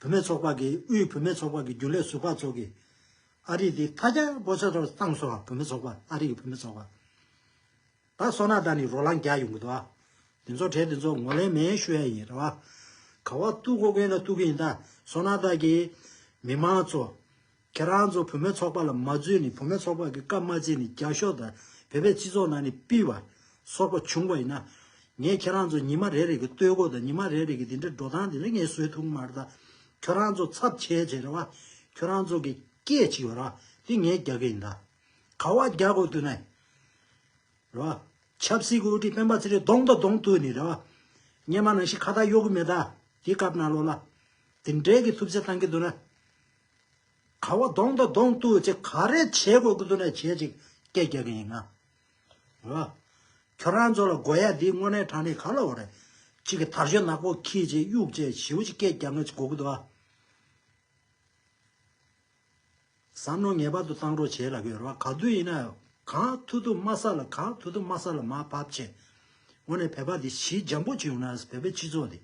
S1: བུད་མེད་ཚོགས་པ་གིས་དབུས་བུད་མེད་ཚོགས་པ་གི་རྒྱུན་ལས་ཟུར་པ་ཚོ་གིས་ཨ་རིག་འདི་ཐ་རྒྱ་པོ་ཆ་ཚོར་བཏང་སོང་བ་བུད་མེད་ཚོགས་པ་ཨ་རིག་གི་བུད་མེད་ཚོགས་པ་ད་སོ་ན་ད་ནི་རོ་ལངས་རྒྱག་ཡོང་གི་འདུག་ཨ་འདི་ཚོ་གྲས་འདི་ཚོ་ངོ་ལེན་མེད་ཞུ་ཡ་ཡིན་རེད་བ་ག་བ་ཏུ་གོ་གིན་ལ་ཏུ་གིན་ད་སོ་ན་ད་ཀྱི་མི་མང་ཚོ་ཁྱེད་རང་ཚོ་བུ་མོའི་ཚོགས་པ་ལ་མ་རྫུས་ནས་བུ་མོའི་ཚོགས་པ་གི་བཀའ་མ་བརྩི་ནས་རྒྱ་ཤོག་དང་བོད་པའི་སྤྱི་ཚོགས་ནང་ནས་སྤིལ་བ། སོག་པ་བྱུང་བ་ཡིན་ན། ངས་ཁྱེད་རང་ཚོ་ཉི་མ་རེ་རེ་གི་སྟོད་གོ་དང་ཉི་མ་རེ་རེ་གི་དེ་འདྲའི་འགྲོ་སྟངས་དེ་འདྲ་ངས་བཟོས་ཐུག་མར་ད། ཁྱོད་རང་ཚོ་ཚབ་བྱས་བྱས་རེ་བ། ཁྱོད་རང་ཚོ་གི་སྐད་ཅིག་ཡོད་རེ་བ་དེ་ངས་རྒྱག་གི་ཡིན་ད། ག་བ་རྒྱག་དགོས་དུས་ནས། རེ་བ། ཆབ་སྲིད་གི་དབུ་ཁྲིད་སྤེན་པ་ཚེ་རིང་གདོང་དང་གདོང་ཐུག་ནས་རེ་བ། སྙེ་མ་ནང་བཞིན་ཁ་བཏགས་གཡོག་གི་མེད་ད། དེ་སྐབས་ནང་ལོགས་ལ། དེ་འདྲས་གི་ཐུབ་ཚེ་བཏང་གི་འདུག་ན། ག་བ་གདོང་དང་གདོང་གཏུག་ཅིག་ག་རེ་བྱེད་དགོས་ཀྱི་འདུག་ན་བྱེད་ཅིག་སྐད་རྒྱག་གི་ཡིན་ང། ཨོ། ཁྱོད་རང་ཚོ་ལ་དགོས་ཡ་འདི་དངོས་གནས་དྲང་ནི་ག་ལ་འོ་རེད། ཅིག་གི་དར་ཞོ་ནག་པོ་ཁྱིད་ཅིག་གཡུག་ཅིག་བྱིའུ་ཅིག་སྐད་རྒྱག་ངེས་ཅིག་དགོས་ཀྱི་འདུག་ཨ། བསམ་བློ་ངེས་པར་དུ་བཏང་རོགས་བྱེད་ལ་གོ་རེད་བ་ག་དུས་ཡིན་ན་གང་ཐུག་ཐུག་མ་ས་ལ་གང་ཐུག་ཐུག་མ་ས་ལ་མ་བབ་ཆེད། འོ་ནས་བོད་པ་འདི་གཞི་འཇམ་པོ་ཅིག་ཡོང་ན་བོད་པའི་སྤྱི་ཚོགས་འདི།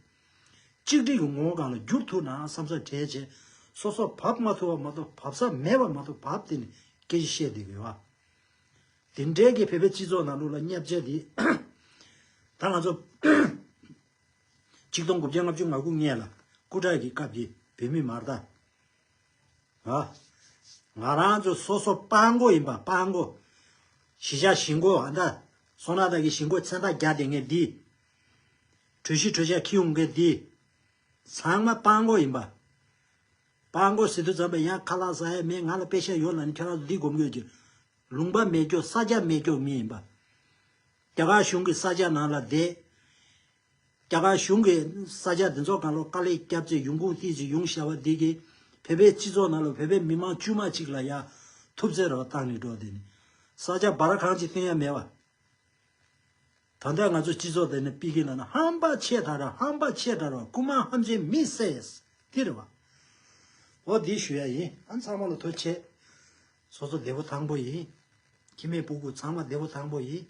S1: གཅིག་སྒྲིལ་གྱི་ངོ་བོ་གང་ལ་བསྒྱུར་ཐུབ་ནའང་བསམ་ས་བྲལ་བྱས། སོ་སོར་བབས་མ་ཐུབ་པ་མ་གཏོགས་བབས་ས་མེད་པ་མ་གཏོགས་བབས་དེ་ནི་སྐད་ཅིག་བཤད་བསྡད་དགོས་པ། དེ་འབྲེལ་གྱི་བོད་པའི་སྤྱི་ཚོགས་ནང་ལུགས་ལ་བསྙད་བྱས་འདི། ད་ང་ཚོ། ཆིག་སྟོང་དགུ་བརྒྱ་ལྔ་བཅུ་ང་དགུ་ལྔས་ལ་སྐུ་དྲག་གི་སྐབས་ཀྱི་བོད་མི་མར་དང། ང། ང་རང་ཚོ་སོ་སོ་དཔའ་མགོ་ཡིན་པ་དཔའ་མགོ། གཞིས་ཆགས་གཞིས་མགོ་ཨ་མདའ། སོ་ནག་དག་གི་གཞིས་མགོ་མཚན་རྟགས་རྒྱག་བསྡད་ངེས་འདི། གྲོས་གཞི་གྲོས་འཆར་འཁྱེར་ཡོང་མཁན་དེ། ཚང་མ་དཔའ་མགོ་ཡིན་པ། དཔའ་མགོ་ཟེར་དུས་ཙམ་པས་ཡང་ཁ་ལག་ཟ་ཡས་མས་ང་ལ་དཔེ་ཆ་ཡོད་ལ་ནི་ཁྱོད་རང་ཚོ་འདི་སྒོམ་དགོས་ཀྱི། ལུང་པ་མེད་སྐྱོ་ས་སྐྱ་མེད་སྐྱོ་མི་ཡིན་པ། རྒྱ་གར་གཞུང་གི་ས་སྐྱ་ནང་ལ་བསྡད། རྒྱ་གར་གཞུང་གི་ས་སྐྱ་འདི་ཚོ་གང་ལོག་དཀའ་ལས་སྐྱབས་ཚེ་ཡུང་ཀུང་ཏི་ཅི་ཡུང་ཞེས་པ་འདི་གིས་བོད་པའི་སྤྱི་ཚོགས་ནང་ལ་བོད་པའི་མི་མང་དཀྱུས་མ་གཅིག་ལ་ཡ་ཐུབ་ཚེ་ར་བ་བཏང་ནས་འགྲོ་དེ་ནི་ས་སྐྱ་སྦ་ར་གང་ཅི་སྟོན་ཡ་མེད་པ། ད་ལྟ་ང་ཚོ་སྤྱི་ཚོགས་དེ་ནི་པི་ཀི་ལ་ན་ཧམ་པ་ཆེས་དྲག་ར་ཧམ་པ་ཆེས་དྲག་ར་རྐུ་མ་ཧམ་ཆེན་མི་སེས་ཀི་རེད་བ། ཨོ་འདི་ཞུ་ཡ་ཡིན་ཨ་ཚང་མ་ལ་ཐོས་ཆེས། སོ་སོ་བདེ་བོ་ཐང་པོ་ཡིན། ཁྱི་མེད་སྤུ་གུ་ཚང་མ་བདེ་བོ་ཐང་པོ་ཡིན།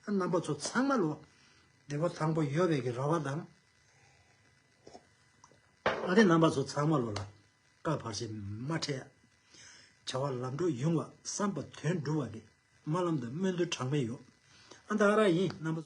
S1: ཨ་རྣམ་པ་ཚོ་ཚང་མ་ལོ། བདེ་བོ་ཐང་པོ་ཡོད་བའི་གི་ར་བ་དང། ཨ་རེ་རྣམ་པ་ཚོ་ཚང་མ་ལོ་ལ། བཀའ་བར་ཆད་མ་འཕྲད། བྱ་བ་ལམ་འགྲོ་ཡོང་བར་བསམ་པ་དོན་འགྲུབ་བ་རེད། དམར་ལམ་དུ་སྨོན་འདུན་གྲངས་མེད་ཡོད། ཨ་མདའ་ཨ་རག་ཡིན་རྣམ་པ།